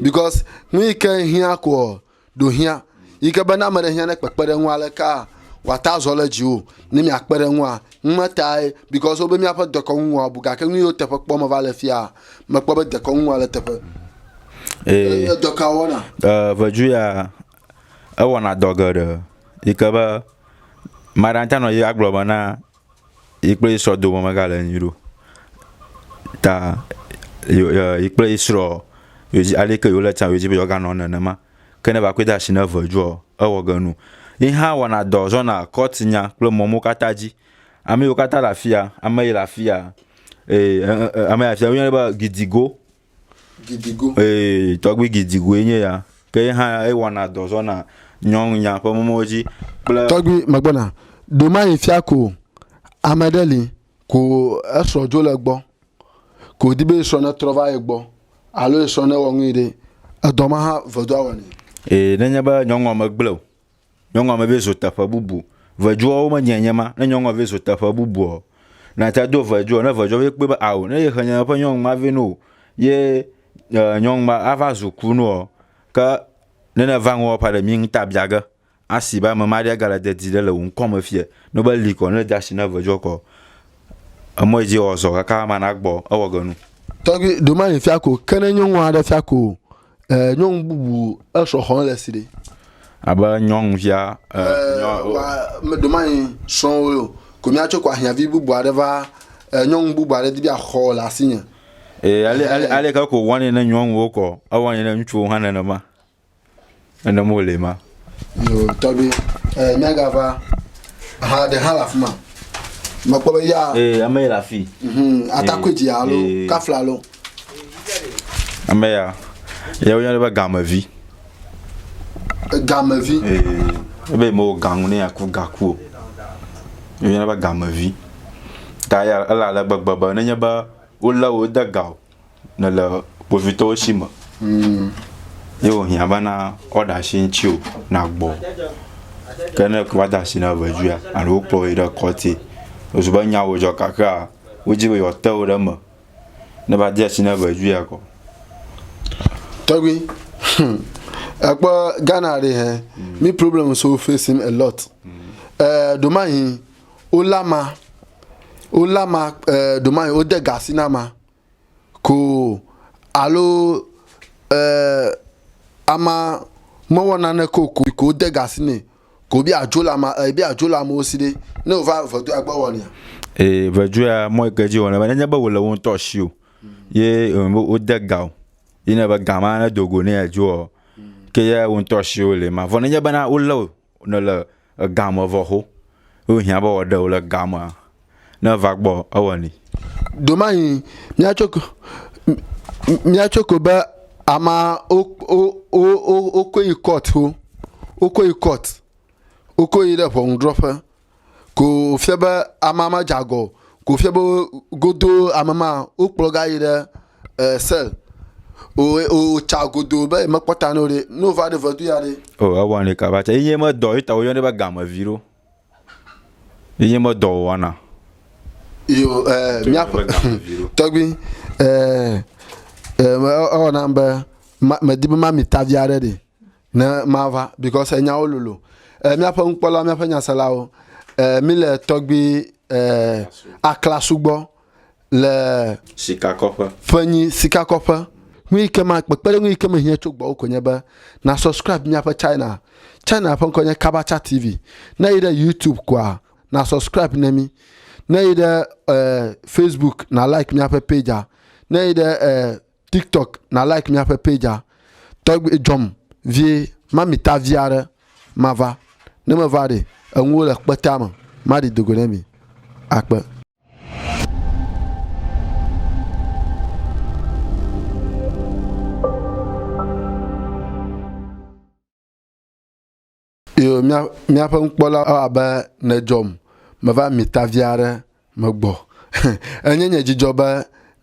because nu yi ke hiã ko ɖo hiã yi ke be na ame ɖe hiã ne kpekpe ɖe ŋu aleka wa ta zɔ le dzi o ne mia kpe ɖe ŋua nu ma tae because wo be mía ƒe dekɔnu wɔa bu gake nu yiwo teƒe kpɔ me va le fia mekpɔ be dekɔnu wɔa le teƒe. Ee. Edɔ ka wɔna? Eee eh, vedu ya ewɔna dɔ geɖe yi ke be ame aɖe ate ŋu anɔ anyi agblɔ be na yi kple yi srɔ̃ dome megale nyuie ɖe o ta e yi kple yi srɔ̃ yewodzi ale yi ke yewole tsa yewodzi be yewoaganɔ nenema. Ke ne evakɔe de asi na eve edzɔa ewɔ ge nu. Ye hã wɔna dɔ zɔna kɔtinya kple mɔ mawo katã dzi. Ame yiwo katã le afi ya, ame yi le afi ya e e e ame yi le afi ya woyɔnɛ be gidigo. Gidigo. Ee, tɔgbi Gidigoe nye ya. Ke ye hã ewɔna dɔ zɔna nyɔnunya ƒe mɔwo dzi kple. Tɔgbi megbɔna. Ɖomayi fia ko ame ɖe li ko esrɔ̃ dzo le gbɔ ko wòdi be yesrɔ̃ netrɔ va ye gbɔ alo yesrɔ̃ newɔ nui ɖe, edɔ ma hã vedoa wɔnɛ. Ee, nenye be nyɔnua megblẽ o. Nyɔnua me be zo teƒe bubu. Veduɔwo me dze nye ma. Ne nyɔnua ve zo teƒe bubuɔ, na tsa do veduɔ, ne veduɔ ve kpɔe be ao, ne ye xe nye ƒe nyɔnu ma ve noo, ye e nyɔnu ma a va zu kunuɔ, ke ne ne va ŋuɔ ƒa ɖe mi ŋta bia ge. Asi be ame ma ɖe ga le dedi ɖe le wò ŋkɔ me fiɛ. Ne be li kɔ, ne de asi na veduɔ kɔ, emɔ yi dzi ewɔ zɔ kaka ma na gbɔ, ewɔ ge nu. Tɔgbi, ɖo ma yi fia ko, ke ne nyɔnua ɖe fia ko o, Eh, nyɔnu bubu esɔ xɔn le si ɖe. Abe nyɔnuvia eh, eh nyɔ, oh. wa me do manyi srɔ̃wo yo. Ko mia tso ko ahiavi bubu aɖe va eh, nyɔnu bubu aɖe di bi axɔ le asinye. Eh, ale ale eh. ale ke ko wani ne nyɔnuwo kɔ, ewani ne ŋutsuwo hã nenema. Nenem wole ma. Yo, tɔgbi, eh, nyaga va, aha ɖe hã le afi ma. Mekpɔ be ya. Eh, ame yi le afi. Mhm, atakui dzi alo kafla alo. Ame ya, ya wo yɔna be gamevi. Gamevi. Eh, ebe mo gangu ne aku gaku o. Yo yɔna be gamevi. Ta ya ele ale gbegbe be nenye be wo le wo de ga o. nèle kpovitɔwo si me mm. ye wòhiã bena woaɖe asi ŋuti o nagbɔ ke ne ko woade asi na ʋedzoea alo wokplɔ yi ɖe kɔti ezu be nyawo dzɔ kakea wodi be yewoate wo ɖe me ne va de asi na ʋedzoea kɔ tɔgbi hmm. ekpɔ ghana ɖe hɛ hmm. mi problem so facing a lot hmm. eh, ɖomahi wolama wolama eh, ɖomahi wode gasi na ma Koo alo e ama mewɔ naneke o ko ko wode ga si nɛ ko wobe yeadzo le ama e be yeadzo le amewo si ɖe ne wova vedu agbe wɔnɛ. Ee, veduea mɔ yi ke dzi wɔnɛ be nenye be wòle wo ŋutɔ si o ye e be wode ga o yi ne be ga ma ne do go ne yeadzo ɔ ke ye wo ŋutɔ si wole ma vɔ nenye bena wolé o ne le ega me vɔ xo wo hiã be wɔ ɖe wo le ega me ne va gbɔ ewɔ ni domahin mia tso ko mia tso ko be ama o o o o o ko yi court o o ko yi court o ko yi ɖe ʋɔnudrɔƒe Ko wòfia be amea ma dze agɔ o. Ko wòfia be godo ame ma wokplɔ ga yi ɖe e, sel. Wòtsa godo be yemekpɔ ta nɛ o ɖe. Ne wòva ɖe vedu ya ɖe. O, ewɔnɛ kaba tsɛ. Enye medɔ, ye ta woyɔnɛ be gamevi ɖo. Enye medɔ wòwɔna. Yo, e, míaƒe tɔgbi, e, e, ewɔ nam be medi be mami tavi aɖe ɖi. Ne mava, because enyawo lolo. Eh, míaƒe nukpɔla, míaƒe nyaselawo, eh, míle tɔgbi eh, Aklasu gbɔ le Sikakɔƒe. ƒe nyi sikakɔƒe. Nu yi ke ma kpekpeɖeŋu yi ke mehiã tso gbɔwò koe nye be na subscribe míaƒe china. China ƒe ŋkɔ nye Kabacha TV. Ne èyi ɖe YouTube koa, na subscribe ne mí. Ne èyi ɖe eh, Facebook, na like míaƒe page-a. Ne èyi ɖe eh, tiktok na like míaƒe page a tɔgbi dzɔm vie mami ta vi aɖe mava ne meva ɖe enuwo le kpetea me maɖi dogo ne mi akpe Iyo mía, míaƒe nukpɔla ewɔ abe nèdzɔm. Meva mi ta vi aɖe me gbɔ. Enye nye dzidzɔ be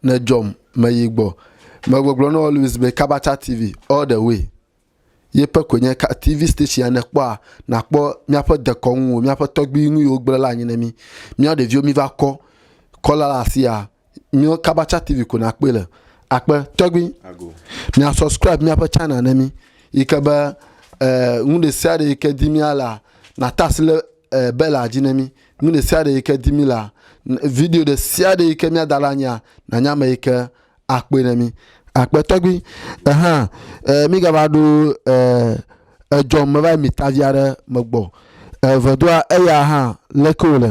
nèdzɔm. Meyi gbɔ. Megbɔgblɔ na wò Louis be Kabacha TV, all the way. Ye ƒe koe nye ka, TV station ya nèkpɔa, nàkpɔ míaƒe dekɔnuwo, míaƒe tɔgbuinuyiwo gblẽ la anyi ne mí. Míawo ɖeviwo míva kɔ, kɔla le asiaa, míawo kabatsa tv ko nakpɔe le akpe tɔgbi mia subscribe míaƒe channel ne mi yi ke be eh, nu ɖe sia ɖe yi ke di mía la nata asi le eh, bela dzi ne mi nu ɖe sia ɖe yi ke di mi la video ɖe sia ɖe yi ke míada la nyia nanya ame yi ke akpɔe ne mi akpe tɔgbi ehã eh, mígava ɖo eh, edzɔm meva yi mitavi aɖe megbɔ eh, vedoa eya hã leke wòle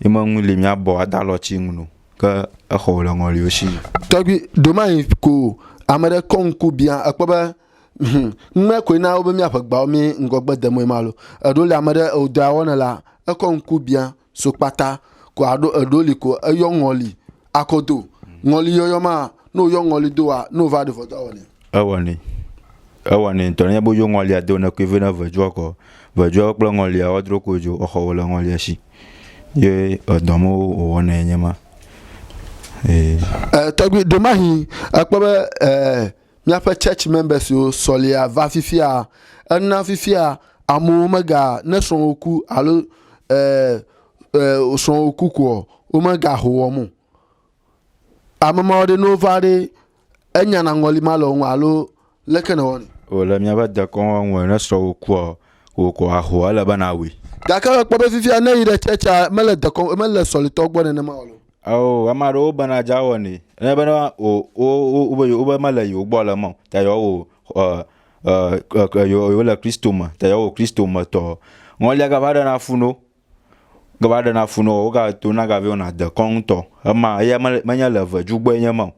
Yi me ŋu li mia bɔ ada lɔ tsi ŋu no, ke exɔ wòle ŋɔliwo tsi yi. Tɔgbi, domayi ko ame ɖe kɔ ŋku bia ekpɔ be hum ŋmɛ koe na wobe mia ƒe gbawo mi ŋgɔgbe de moe ma lo. Eɖo li ame ɖe eo dɔa wɔne la ekɔ ŋku bia so kpata ko aɖo eɖo li ko eyɔ ŋɔli Akodo, ŋɔli yɔyɔ ma, ne wòyɔ ŋɔli doa, ne wòva ɖe vɔdɔ awɔ nɛ. Ewɔ nɛ. Ewɔ nɛ ŋutɔ. Nenye be woyɔ ŋɔlia do ne kui vɛ ne vɔdɔa kɔ, vɔdɔa kple ŋɔlia woadro ko dzo exɔ wò le ŋɔlia si. Ye edɔ me wòwɔ nɛ nye ma. Ee. Eh, tɔgbi, ɖe mahi ekpɔ be eh, míaƒe church members wo sɔlia va fifia, ena fifia amewo mega ne srɔ̃wo ku alo eh, eh, srɔ̃ wò kukuɔ, womegaho wɔm o. Ame mawo ɖe ne wova ɖe enya na ŋɔli ma le wo ŋu alo leke ne wɔni? Wòle míaƒe dekɔn wɔm ŋue ne srɔ̃ wò kuɔ, wò kɔ ahoa, ele be na wui. Gake ekpɔ be fifia ne yi ɖe tsɛtsɛa, mele dekɔn, mele sɔlitɔ gbɔ nenema o. Ao, ame aɖewo bena dza wɔ nɛ. Ne bena wò, wo, wo, wo, wo be mele yewo gbɔ le mɔ, ta yewo wò, ɔ, ɔ, ɔ, ɔ, yewo, yewo le Kristo me, ta yewo wò Kristo me tɔ. Ŋɔlia gava ɖe na fu no, Gava ɖena fu nɔ wo, woga to na gavi ona de kɔn tɔ. Ema eya me me nya le ve jugbo enye ma.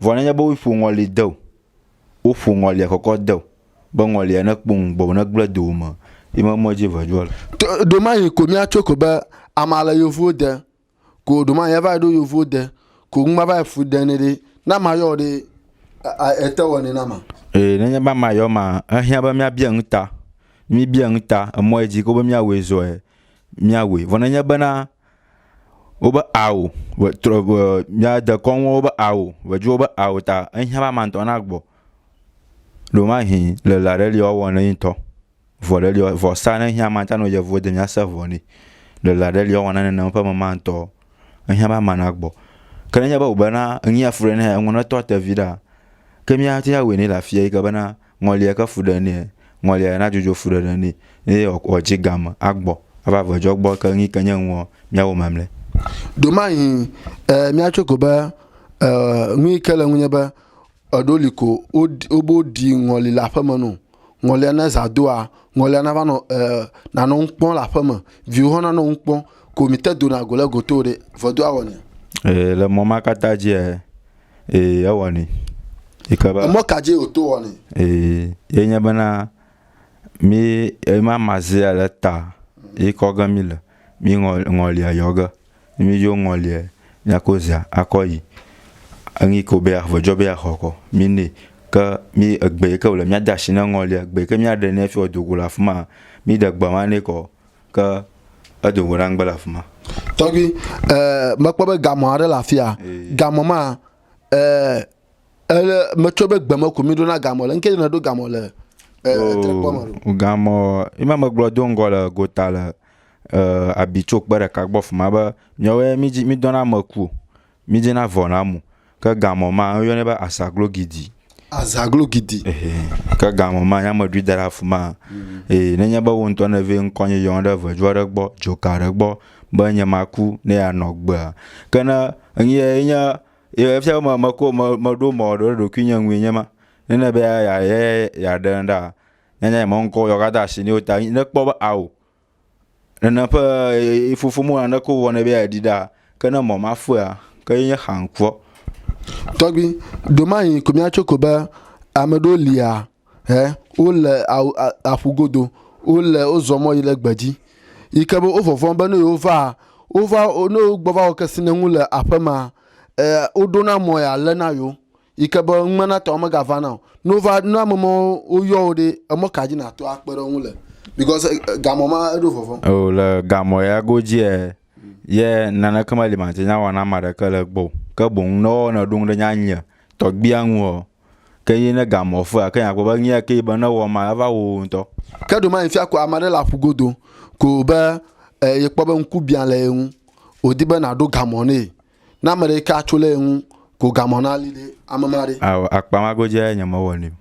Vɔ ne nya bo ƒo ŋɔli de o. Wo ƒo ŋɔli e kɔkɔ de o. Be ŋɔli e ne kpong bo ne gble do me. Yi me me ji ve jua le. Ɖo ma yi ko mia tso ko be ama le yovuwo de. ko ɖo ma ya va ɖo yovo de ko ŋu ma va fu de ne ɖe na ma yɔ ɖe ete wɔ ne na ma ee ne nye ba ma yɔ ma ehiã be mia bia ŋu ta mi bia ŋu ta emɔ yɛ dzi ko be mia wɔ zɔ yɛ mia wɔ vɔ ne nye be na wo be ao wɔ trɔ wɔ mia de kɔnu wo be ao wɔ dzi wo be ao ta ehiã be ama ŋutɔ na gbɔ ɖo ma hi le la ɖe li wa wɔ ne ŋutɔ Vɔ ɖe li ɔ, vɔsa ne hiã ma ta no yevuwo de mia se vɔ ni. Le la ɖe li ɔ wɔna ne ne ƒe me ma ŋtɔ. Ehiã ba mana gbɔ. Ke ne nye be ube na ŋi ya fu ɖe ne eŋɔ ne tɔ te vi ɖa. Ke mia ti ya wui ne la fie yi ke be na ŋɔli ya ke fu ɖe ne ŋɔli ya na dzodzo fu ɖe ɖe ni. Ne ye ɔ ji game agbɔ. Ava ve dzɔ gbɔ ke ŋi ke nye ŋuɔ mia wo mamle. Do ma yi e mia tso ko be e ŋui ke le ŋunye be eɖo li ko wo ɖi wo bo ɖi ŋɔli la ƒe me no. Ŋɔlia ne zã doa, ŋɔlia nava nɔ e nanɔ nu kpɔm le aƒeme. Viwo hã nanɔ nu kpɔm. Ko mìte dona go le goto o ɖe, vɔ do awɔ nɛ. Ee, le mɔ ma katã dzi e, ee, ewɔ nɛ. Yi ke be. Emɔ ka dzi wòto wɔ nɛ? Ee, ye nye bena mí ema mazea le ta yi kɔ ge mí le mí ŋɔ, ŋɔlia yɔ ge. Ne mí dzo ŋɔliɛ, mía ko zea akɔ yi eŋi ko be ya vɔjɔ be ya xɔ kɔ mí nɛ. Ke mí egbe yi ke wòle mía dashi ne ŋɔliɛ, egbe yi ke mía ɖe nɛ fiɔ dogo le afima, mí ɖe gbe ma nɛ kɔ o. Ke edogo ɖa ŋgbe le afima. Tɔgbi, ɛɛ, me kpɔ be gamɔ aɖe le afia. Gamɔ maa, ɛɛ, Ele metsɔ be gbeme ko mi ɖo na gamɔ le ŋkɛdzi ne ɖo gamɔ le trekpɔ me ɖo. Gamɔ ima megblɔ do ŋgɔ le gota le abitso kpe ɖeka gbɔ fima be miawo ya mi dzi mi dɔna ame ku mi dzi na vɔ na mu ke gamɔ ma woyɔnɛ be asaglo gidi. Azaglo gidi. Ke gamɔ ma ya meɖui da ɖe afima eye nenye be wo ŋutɔ ne vɛ ŋkɔ nye yɔn ɖe vedzo aɖe gbɔ dzoka aɖe gbɔ be nye maku ne ya nɔ gbea ke ne ŋye nye Ye efia be me- meko me- meɖo mɔ ɖo ɖe ɖokuinye ŋue nye ma. Nene be ya- ya- ya- yeaɖe ŋu ɖaa, nene ye me ŋkɔ yewoaka de ashi nɛ o ta ne kpɔ be ao, nene ƒe e- e- fofo mewɔ naneke o vɔ nɛ be yeaɖi ɖaa. Ke ne mɔ ma fɔea, ke ye nye xaŋkɔ. Tɔgbi, ɖo mayi ko mìatso ko be ame ɖewo lia, He wole awu a aƒu godo. Wole wozɔ mɔ yi ɖe gbedzi. Yi ke be wovɔvɔ̃ be ne yewova wova ne wogbɔ va wɔ kesinɔnu le aƒe ma e woɖo na mɔ ya le na yewo. Yi ke be numenatɔ megava na o. Ne wova ne ame mɔ woyɔ wo ɖe emɔ ka dzi nato akpe ɖe wo ŋu le because e gamɔ ma eɖo vɔvɔ̃. O le gamɔ ya godziea ye naneke meli mate nya wɔ na ame aɖeke le egbɔ o. Ke boŋ ne woawɔ ne ɖo ŋɖe nya nye tɔgbia ŋu ɔ Ke ye ne ga mɔ fea, ke akpɔ be ŋyɛ ke be ne wɔ ma eva wo ŋutɔ. Ke ɖo mayi fia ko ame aɖe le aƒu godo ko be e ye kpɔ be ŋku bia le ye ŋu, o di be na ɖo ga mɔ ne ye. Ne ame ɖe ke a tso le ye ŋu ko ga mɔ na li ɖe ame ma ɖe. Ao akpa ma go dze nye me wɔ ne o.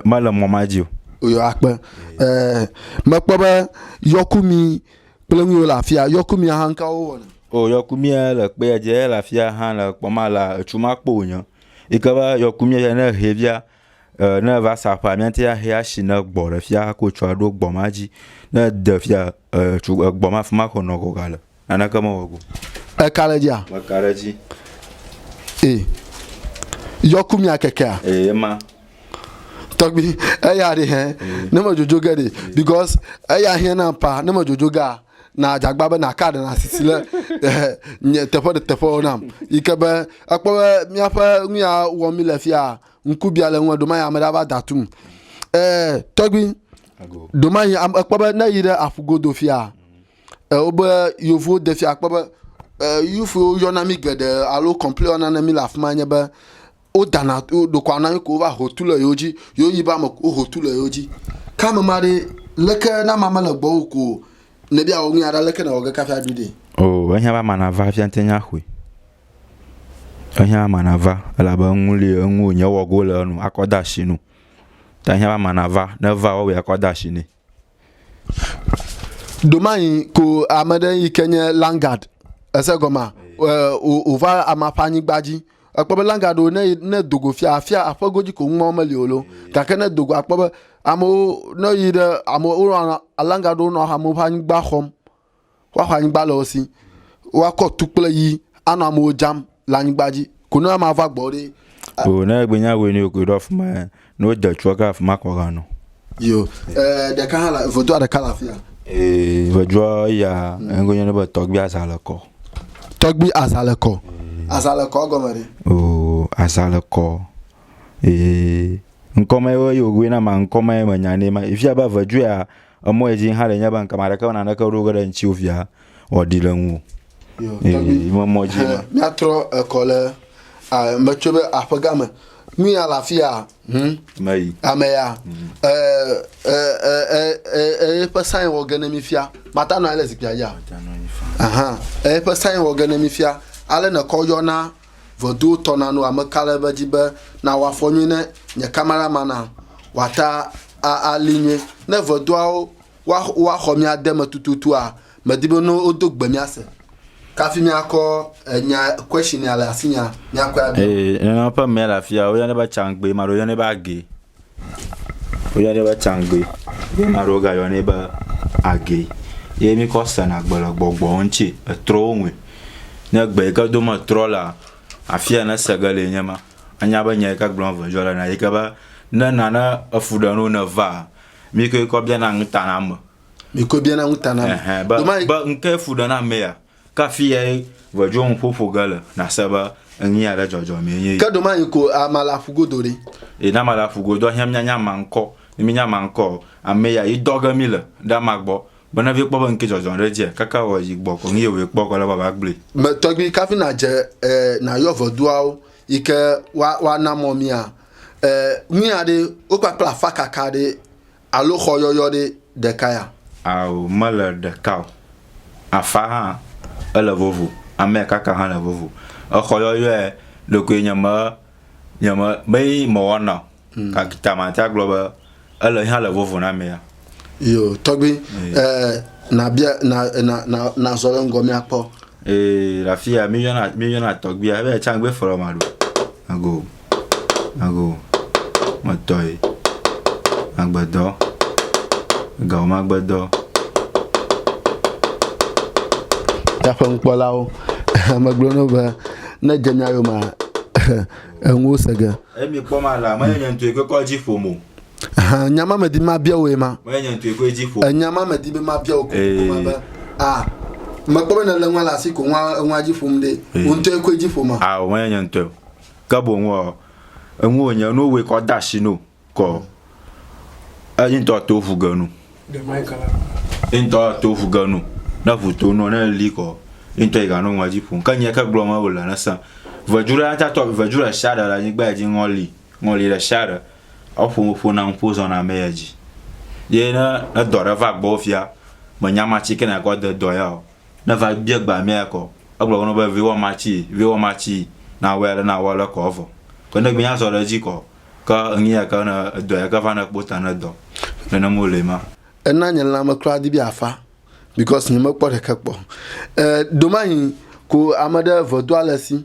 Me le mɔ ma dzi o. Oyo akpe. E me kpɔ be yɔku mi kple ŋu yo le afia, yɔku mi ahan ka wo wɔ ne. O yɔku mi e le kpe dze le afia han le kpɔ ma la, ecu ma kpo o nye. Yi ke be yɔku mía ya ne ehɛ via, e ne eva sa ƒea míate ŋu ahɛ asi ne gbɔ ɖe fia hafi wotsɔ aɖo gbɔ ma dzi. Ne ede fia e tso egbɔ ma afi ma ko nɔ gɔga le. Naneke mewɔ go. Eka ɖe edzia? Meka ɖe edzi. E yɔku mía kekea? E ema. Tɔgbi eya ɖe hɛn ne me dzodzo ge ɖe because eya hiã na pa ne me dzodzo gea na dzagba be naka ɖe na sisi le nye teƒe ɖe teƒewo nam yi ke be ekpɔ be míaƒe nu ya wɔm mi le fia ŋkubia le ŋu ɖoma ya ame ɖe va da tum ɛɛ tɔgbi ɖoma yi ekpɔ be ne yi ɖe aƒu godo fia ɛɛ wobe yevuwo de fia kpɔ be ɛɛ yufuwo yɔna mi geɖe alo kɔmpli wɔna ne mi le afi ma nye be Wodana wo ɖokuiwo na ko wova ho tu le yewo dzi. Yewo yi be ame ko ho tu le yewo dzi. Ke ame ma ɖe leke na ma mele gbɔ wo ko ne bia wo ŋuya ɖa leke na wɔge kafi aɖu ɖe. O ehiã be ama nava fia te nya xoe. Ehiã ama nava elabe eŋu li eŋu nye wɔgo le enu akɔ da shi nu. Ta ehiã be ama nava ne va wɔwɔe akɔ da shi nɛ. domayi ko ame ɖe yi ke nye langard ese gɔma wòva ama ƒe anyigba dzi ekpɔ be langard wo ne ne dogo fia afia aƒe godzi ko ŋumawo meli o lo gake ne dogo akpɔ be amewo ne yi ɖe amewo langard wo nɔ amewo ƒe anyigba xɔm Woaxɔ anyigba le wo si. Woakɔ tu kple yi anɔ amewo dzam le anyigba dzi. Ko ne ama va gbɔ ɖe. O ne egbe nya goe ne yo koe ɖo afi ma ya. Ne wode tua ke afi ma kɔ ga nɔ. Yo, eh, ɖeka hã le, vodua ɖeka le afi ya. Eh, vodua ya, engo nya ne be tɔgbi aza le kɔ. Tɔgbi aza le kɔ. Aza le kɔ gɔme ɖe. O, aza le kɔ. Eh, ŋkɔme yo yo goe na ma ŋkɔme me nya ne ma. Ifia ba vodua Emɔ edzi hã ɖe nye be ŋkama ɖeke me naneke ɖo ge ɖe ŋtsiwo via wɔ ɖi le ŋu. Ee, me mɔ dzi ma. Míatrɔ ekɔ le metso be aƒe gã me. Nu ya le afi ya. Hm. Me yi. Ame ya. Eƒe sain wɔ ge ne mi fia. Mata nɔ anyi le zikpia dzi. Aha. Eƒe sain wɔ ge ne mi fia. Ale ne kɔ yɔna Vodou tɔ na nu ame ka le be dzi be na wa fɔ nyui ne nye kamera ma na wa ta a a li nyui ne vodouawo wa wa xɔ mia de me tututu a me di be no o do gbe mia se kafi mia kɔ enya question ya le asi nya mia kɔ ya do. Ee, nana ƒe mea le afia, o yane ba changbe, ma ɖo yane ba ge. Woyɔnɛ be tsãgbui. Ye ame aɖewo gayɔnɛ be agee. Ye mikɔ sena gbe le gbɔgbɔwo ŋuti, etrɔwo ŋui. Ne egbe yi ke dom etrɔ lea, afi yi ne ese ge lee nye ma. Anya be nya yi ke gblɔm eveviɔ le na ye ke be, ne nane efu ɖe na wo ne evaa, mikɔe kɔ biana nu ta na ame. Mikɔe biana nu ta na ame. Ehɛ be, be ŋkee fu ɖe na amea? Kafiae ʋedzo ŋu ƒoƒo ge le, nàse be eŋee aɖe dzɔdzɔmee nye yi. Ke domayi ko amea le aƒu godo ɖi. Eye ne amea le aƒu godoa, hiã míanya amea ŋkɔ. Ne míenya amea ŋkɔ ɔ, ame ya yi dɔ ge míle ɖe amea gbɔ be ne vie kpɔ be ŋkee dzɔdzɔm ɖe edzia, kaka wɔ yi gbɔ ko nu ye wòyi kpɔ kɔ le be va gblɔe. Me tɔgbi kafi nadze e nayɔ veduawo yi ke wa wana mɔ mía e nuya ɖe wokpakpla afakaka ɖe Alo xɔ yɔyɔ ɖe ɖeka ya? Ao, mele ɖeka o. Afã hã ele vovo, amea kaka hã le vovo. Exɔ yɔyɔe ɖekoe nye me, nye me, mee mewɔna o. Gake ta mate agblɔ be ele hã le vovo na amea. Yo, tɔgbi, e, nabia, na, na, na, nazɔ ɖe ŋgɔ míakpɔ. Ee, le afi ya míyɔna, míyɔna tɔgbia be tsã gbe fɔlɔ ma ɖo. Ago. Mago metɔe magbedɔ, egao magbedɔ. Taƒeŋukpɔlawo megblɔ no be ne dze mia yomea enuwo se ge. Eye mi kpɔ ma la, menye nye ŋutɔe koe kɔ dzi ƒom o. Nya ma medi mabia wò ye ma. Menye nye ŋutɔe koe dzi ƒom. Nya ma medi be mabia wò kokoko ma be a mekpɔ be nèle nua le asi ko nua enua dzi ƒom ɖe wò ŋutɔe koe dzi ƒoma. Ao menye nye ŋutɔe o. ke boŋ ɔ, eŋu wònye nu wòe kɔ da shi no kɔ eŋutɔ to ŋu ge nu. Eŋutɔ to ŋu ge nu. Ne ŋu to nɔ ne li kɔ eŋutɔ yi ganɔ ŋua dzi ƒom. Ke nyɛ ke gblɔ me wòle ne sã. Vedu ɖe ata tɔ vedu ɖe shia ɖe le anyigba ya dzi ŋɔ li. Ŋɔ li ɖe shia ɖe. Eƒo ƒo ƒo na ŋpo zɔn na mɛ ya dzi. Ye ne edɔ ɖe va gbɔ fia me nya ma ci ke na kɔ de dɔ ya o. Ne va bia gba mia kɔ, egblɔ wonɔ be viwɔ ma ci, viwɔ ma ci, na wɛ le na wɔ le kɔ vɔ. Ke ne gbinya zɔ ɖe ji kɔ, ke ŋi ya ke ne edɔ ya ke va ne kpota ne dɔ. Nene mo le ma. Ena nye lãme kura di be afa because nye me kpɔ ɖeke kpɔ. Eh, domahi ko ame ɖe vɔ do ale si.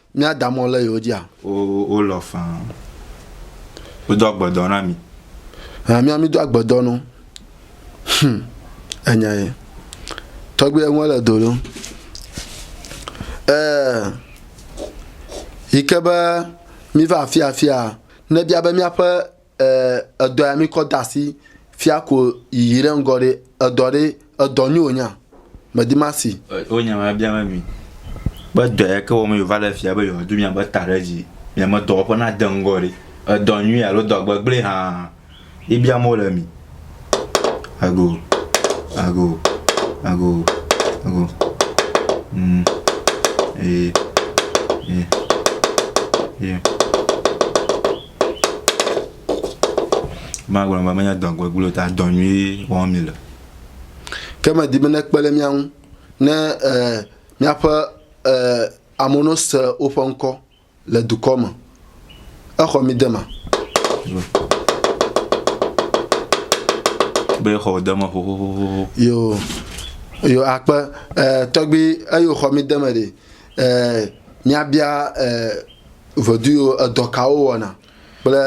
Míada mɔ le yewo dzia? Wolɔ faa. Wodo agbedɔ na mi. Hã mía mído agbedɔ no. Hm, enya ye. Tɔgbi eŋua le do ɖo. Ee, yi ke be míva afi afia, nebia be míaƒe Ee, edɔ ya mi kɔ dasi fia ko yiyi ɖe ŋgɔ ɖe edɔ ɖe edɔ nyo nya medi masi. Wo nya ma bia me mi be dɔ ya ke wɔm yo va le fia be yo du mia be ta ɖe dzi mia me dɔwɔƒe na de ŋgɔ ɖe edɔ nyui alo dɔ gbegble hã yi bia mo le mi. Ago ago ago ago. Mm. E e e. Magblɔ be menye dɔ gbegblẽ o ta dɔ nyuie wɔm mile. Ke medi be nekpe ɖe mía ŋu ne míaƒe amewo no se woƒe ŋkɔ le dukɔ me. Exɔ mi dema. Be exɔ wò dema xoxoxoxo. Yo, yo akpe tɔgbi eyo xɔ mi deme ɖe. Míabia. Veduyo edɔ kawo wɔna kple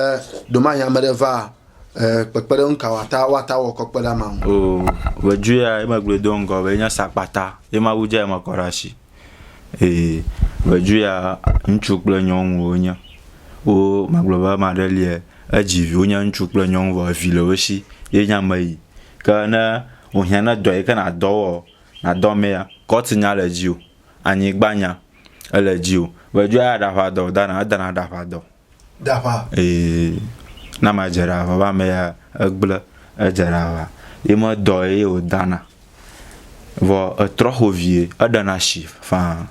ɖomahi ame ɖe va eh, kpekpeɖeŋu ka wòata woata wɔ kɔ kpe ɖe amea ŋu. O veduya ye megblɔe do ŋgɔ be enye sakpata ye Mawu dze eme kɔ ɖe asi. Ee, veduya ŋutsu kple nyɔnu wonye. Wo magblɔ be ame aɖe lie edzi vi wonye ŋutsu kple nyɔnu vɔ evi le wo si ye nye ame yi ke ne wohiã ne dɔ yi ke nadɔ wɔ nadɔ amea kɔti nya le edzi o. anyigba nya ele dzi o vɔ edzoa ya ɖaƒa dɔ dana edana ɖaƒa dɔ ɖaƒa ee na ma dze ɖa vɔ va me ya egble edze ɖa va ye me dɔ ye o dana vɔ etrɔ xo vie eɖena shi faa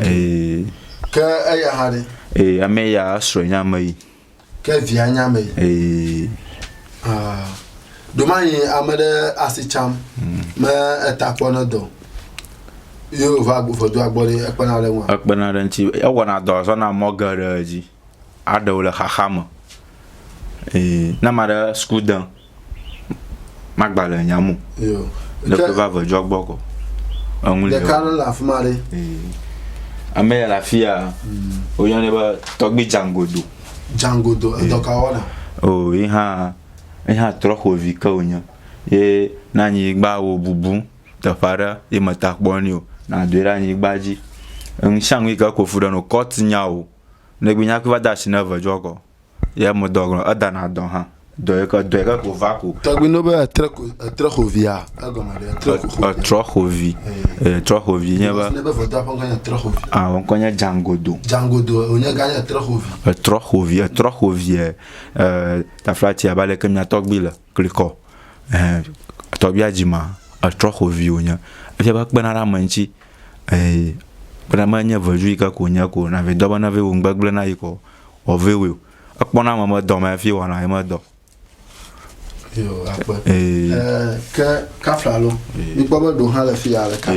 ee ke eya hã ɖe ee ame ya esrɔ nya me yi. Ke via nya me. Ee. Ah. Domanyi ame ɖe asi tsam hmm. me eta kpɔ ne dɔ. Yo va vodo agbɔ ɖe ekpena ɖe ŋua. Ekpena ɖe ŋuti. Ewɔna dɔ zɔna mɔ geɖe dzi. Aɖewo le xaxa me. Ee. Ne ma ɖe suku de. magba le nya mo le ƒe va ve dzɔ gbɔ kɔ eŋu le ɖeka ɖe le afi ma ɖe ame ya le afi ya hmm. woyɔnɛ be tɔgbi dzangodo dzangodo edɔ ka wɔna o yi hã yi hã trɔ xovi ke wonye ye na anyigba wo bubu teƒe aɖe ye meta kpɔ ni o na doe ɖe anyigba dzi eŋu sia ŋu yi ke kofu ɖe no kɔt nyawo ne gbe nya kpe va de asi ne ve dzɔ kɔ Ye me dɔ gɔme. Eda na dɔ hã. Dɔ yi ke dɔ yi ke ko va ko. Tɔgbi no be etre ko etre xo via. Egɔme ɖe etre ko xo. Etrɔ xo vi. E trɔ xo vi nye be. Ne be vɔdɔ ƒe ŋkɔ nye etre xo vi. A ŋkɔ nye Djangodo. Djangodo o nye ga nye etre xo vi. Etrɔ xo vi etrɔ xo vi e e taflatsi abe ale ke mia tɔgbi le klikɔ. Ehe tɔgbia dzi ma etrɔ xo vi o nye. Efia be ekpena ɖe ame ŋtsi. eyi kpena ma nye ve jui ke ko nye ko na ve dɔba na ve wo ŋgbe gble na yi ko wɔ ve wo ekpɔ na ma me dɔ ma fi wɔ na yi me dɔ yo akpe eh ke kafla lo mi kpɔ be do ha le fi ya le ka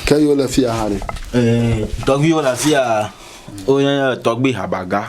ke yo le fi ya ha re eh tɔgbi wo la fi ya o nya tɔgbi habaga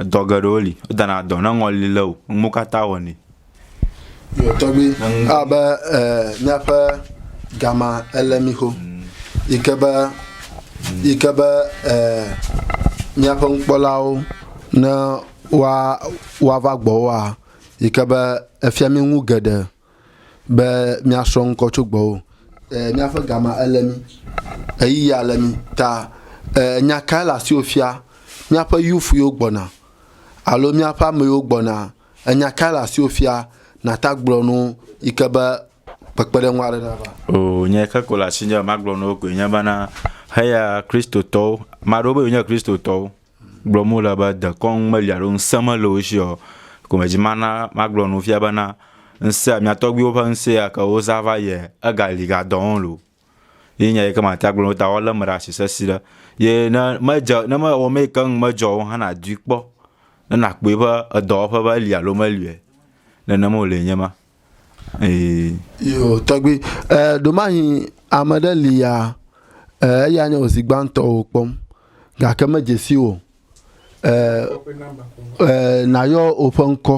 Edɔ geɖewo li, wodana dɔ ne ŋɔli lé wò, nu mawo katã wɔnɛ. Yo tɔgbi abe míaƒe gama ele mi xo yi ke be yi ke be míaƒe nukpɔlawo ne woa woava gbɔwoa yi ke be efia mi nu geɖe. be míasrɔ̃ ŋkɔ tso gbɔwò. Ɛɛ, míaƒe gama ele mí, ɣeyiɣia le mí. Ta ɛɛ, nya kae le asiwò fia? Míaƒe youth yiwo gbɔna alo míaƒe ame yiwo gbɔnaa, enya kae le asiwò fia? Nàta gblɔ nu yi ke be kpekpeɖeŋu aɖe nava. Oo, nya yi ke ko le asinye be magblɔ na wo koe nye bena, Heya Kristotɔwo. Ame aɖewo be yewonye Kristotɔwo. gblɔm wole be dekɔnu meli alo ŋusẽ mele wo si o. Gomedzi mana magblɔ nu fia bena ŋusẽ mia tɔgbuiwo ƒe ŋusẽ ya ke wozã va yia egali gadɔ wo o. Ye nya yi ke mate agblɔ ta woalé eme ɖe asi sesĩ ɖe. Ye ne medze ne mewɔ nu yi ke ŋu medzɔ o hã nadui kpɔ ne nakpɔe be edɔwɔƒe be eli alo meli o. Nene wòle nye ema. Ee. Yo, tɔgbi, eh, ɖomahi ame ɖe li ya, eh, eya nye ozi gbãtɔ wò kpɔm, gake me dzesi wò, eh, eh, na yɔ oƒe ŋkɔ,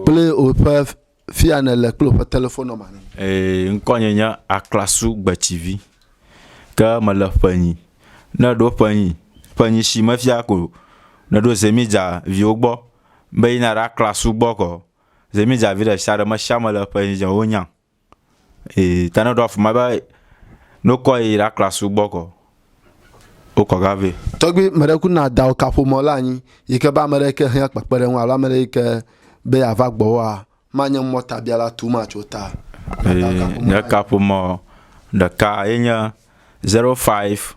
kple oƒe fia ne le kple oƒe telefon nɔmba ne. Ee, ŋkɔ nye nye Aklasu Gbetsivi, ke me le ƒenyi, ne ɖo ƒenyi, ƒenyi shi me fia ko, ne ɖo zemidza viwo gbɔ, be yi na ɖe Aklasu gbɔ kɔ. Ze mi dza vi ɖe sia ɖe me sia me le ƒe yi dze wo nya. E ta ne ɖo afuma be no kɔ yi ra kla su gbɔ kɔ. O kɔ ga ve. Tɔgbi me ɖe ku na da o ka ƒo mɔ la anyi yi ke ba me ɖe ke hia kpekpe ɖe ŋu alo me ɖe yi ke be ya va gbɔ wa ma nye mɔ ta bia la tu ma tso ta. E nye ka ƒo mɔ ɖeka ye nye 05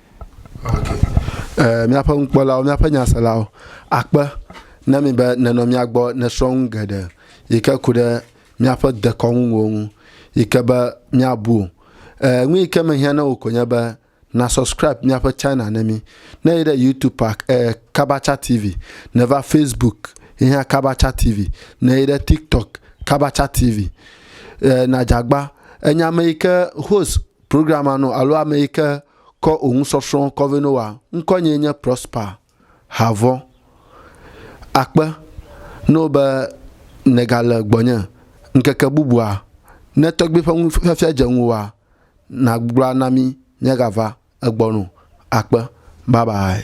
Ee, míaƒe nukpɔlawo, míaƒe nyaselawo akpe na mi be nenɔ mía gbɔ nesrɔ̃ nu geɖe yi ke ku ɖe míaƒe dekɔnunuwo ŋu yi ke be míabu o. Ee, nu yi ke mehiã na wò ko nye be na subscribe míaƒe channel ne mí. Ne yi ɖe YouTube ak, ee, Kabacha TV, neva Facebook yi hã Kabacha TV, ne yi ɖe TikTok Kabacha TV. Ee, nadzagba, enye ame yi ke host Programma nɔ alo ame yi ke kɔ ò ŋu sɔsrɔ̃ kɔ vɛ no wa. Ŋkɔ nyee nye Prosper Havɔ. Akpe na wò be nègale gbɔnye ŋkeke bubua. Ne tɔgbui ƒe nufiafia dze ŋuwòa, nàgblɔ na mí míagava egbɔ o. Akpe. Bye bye.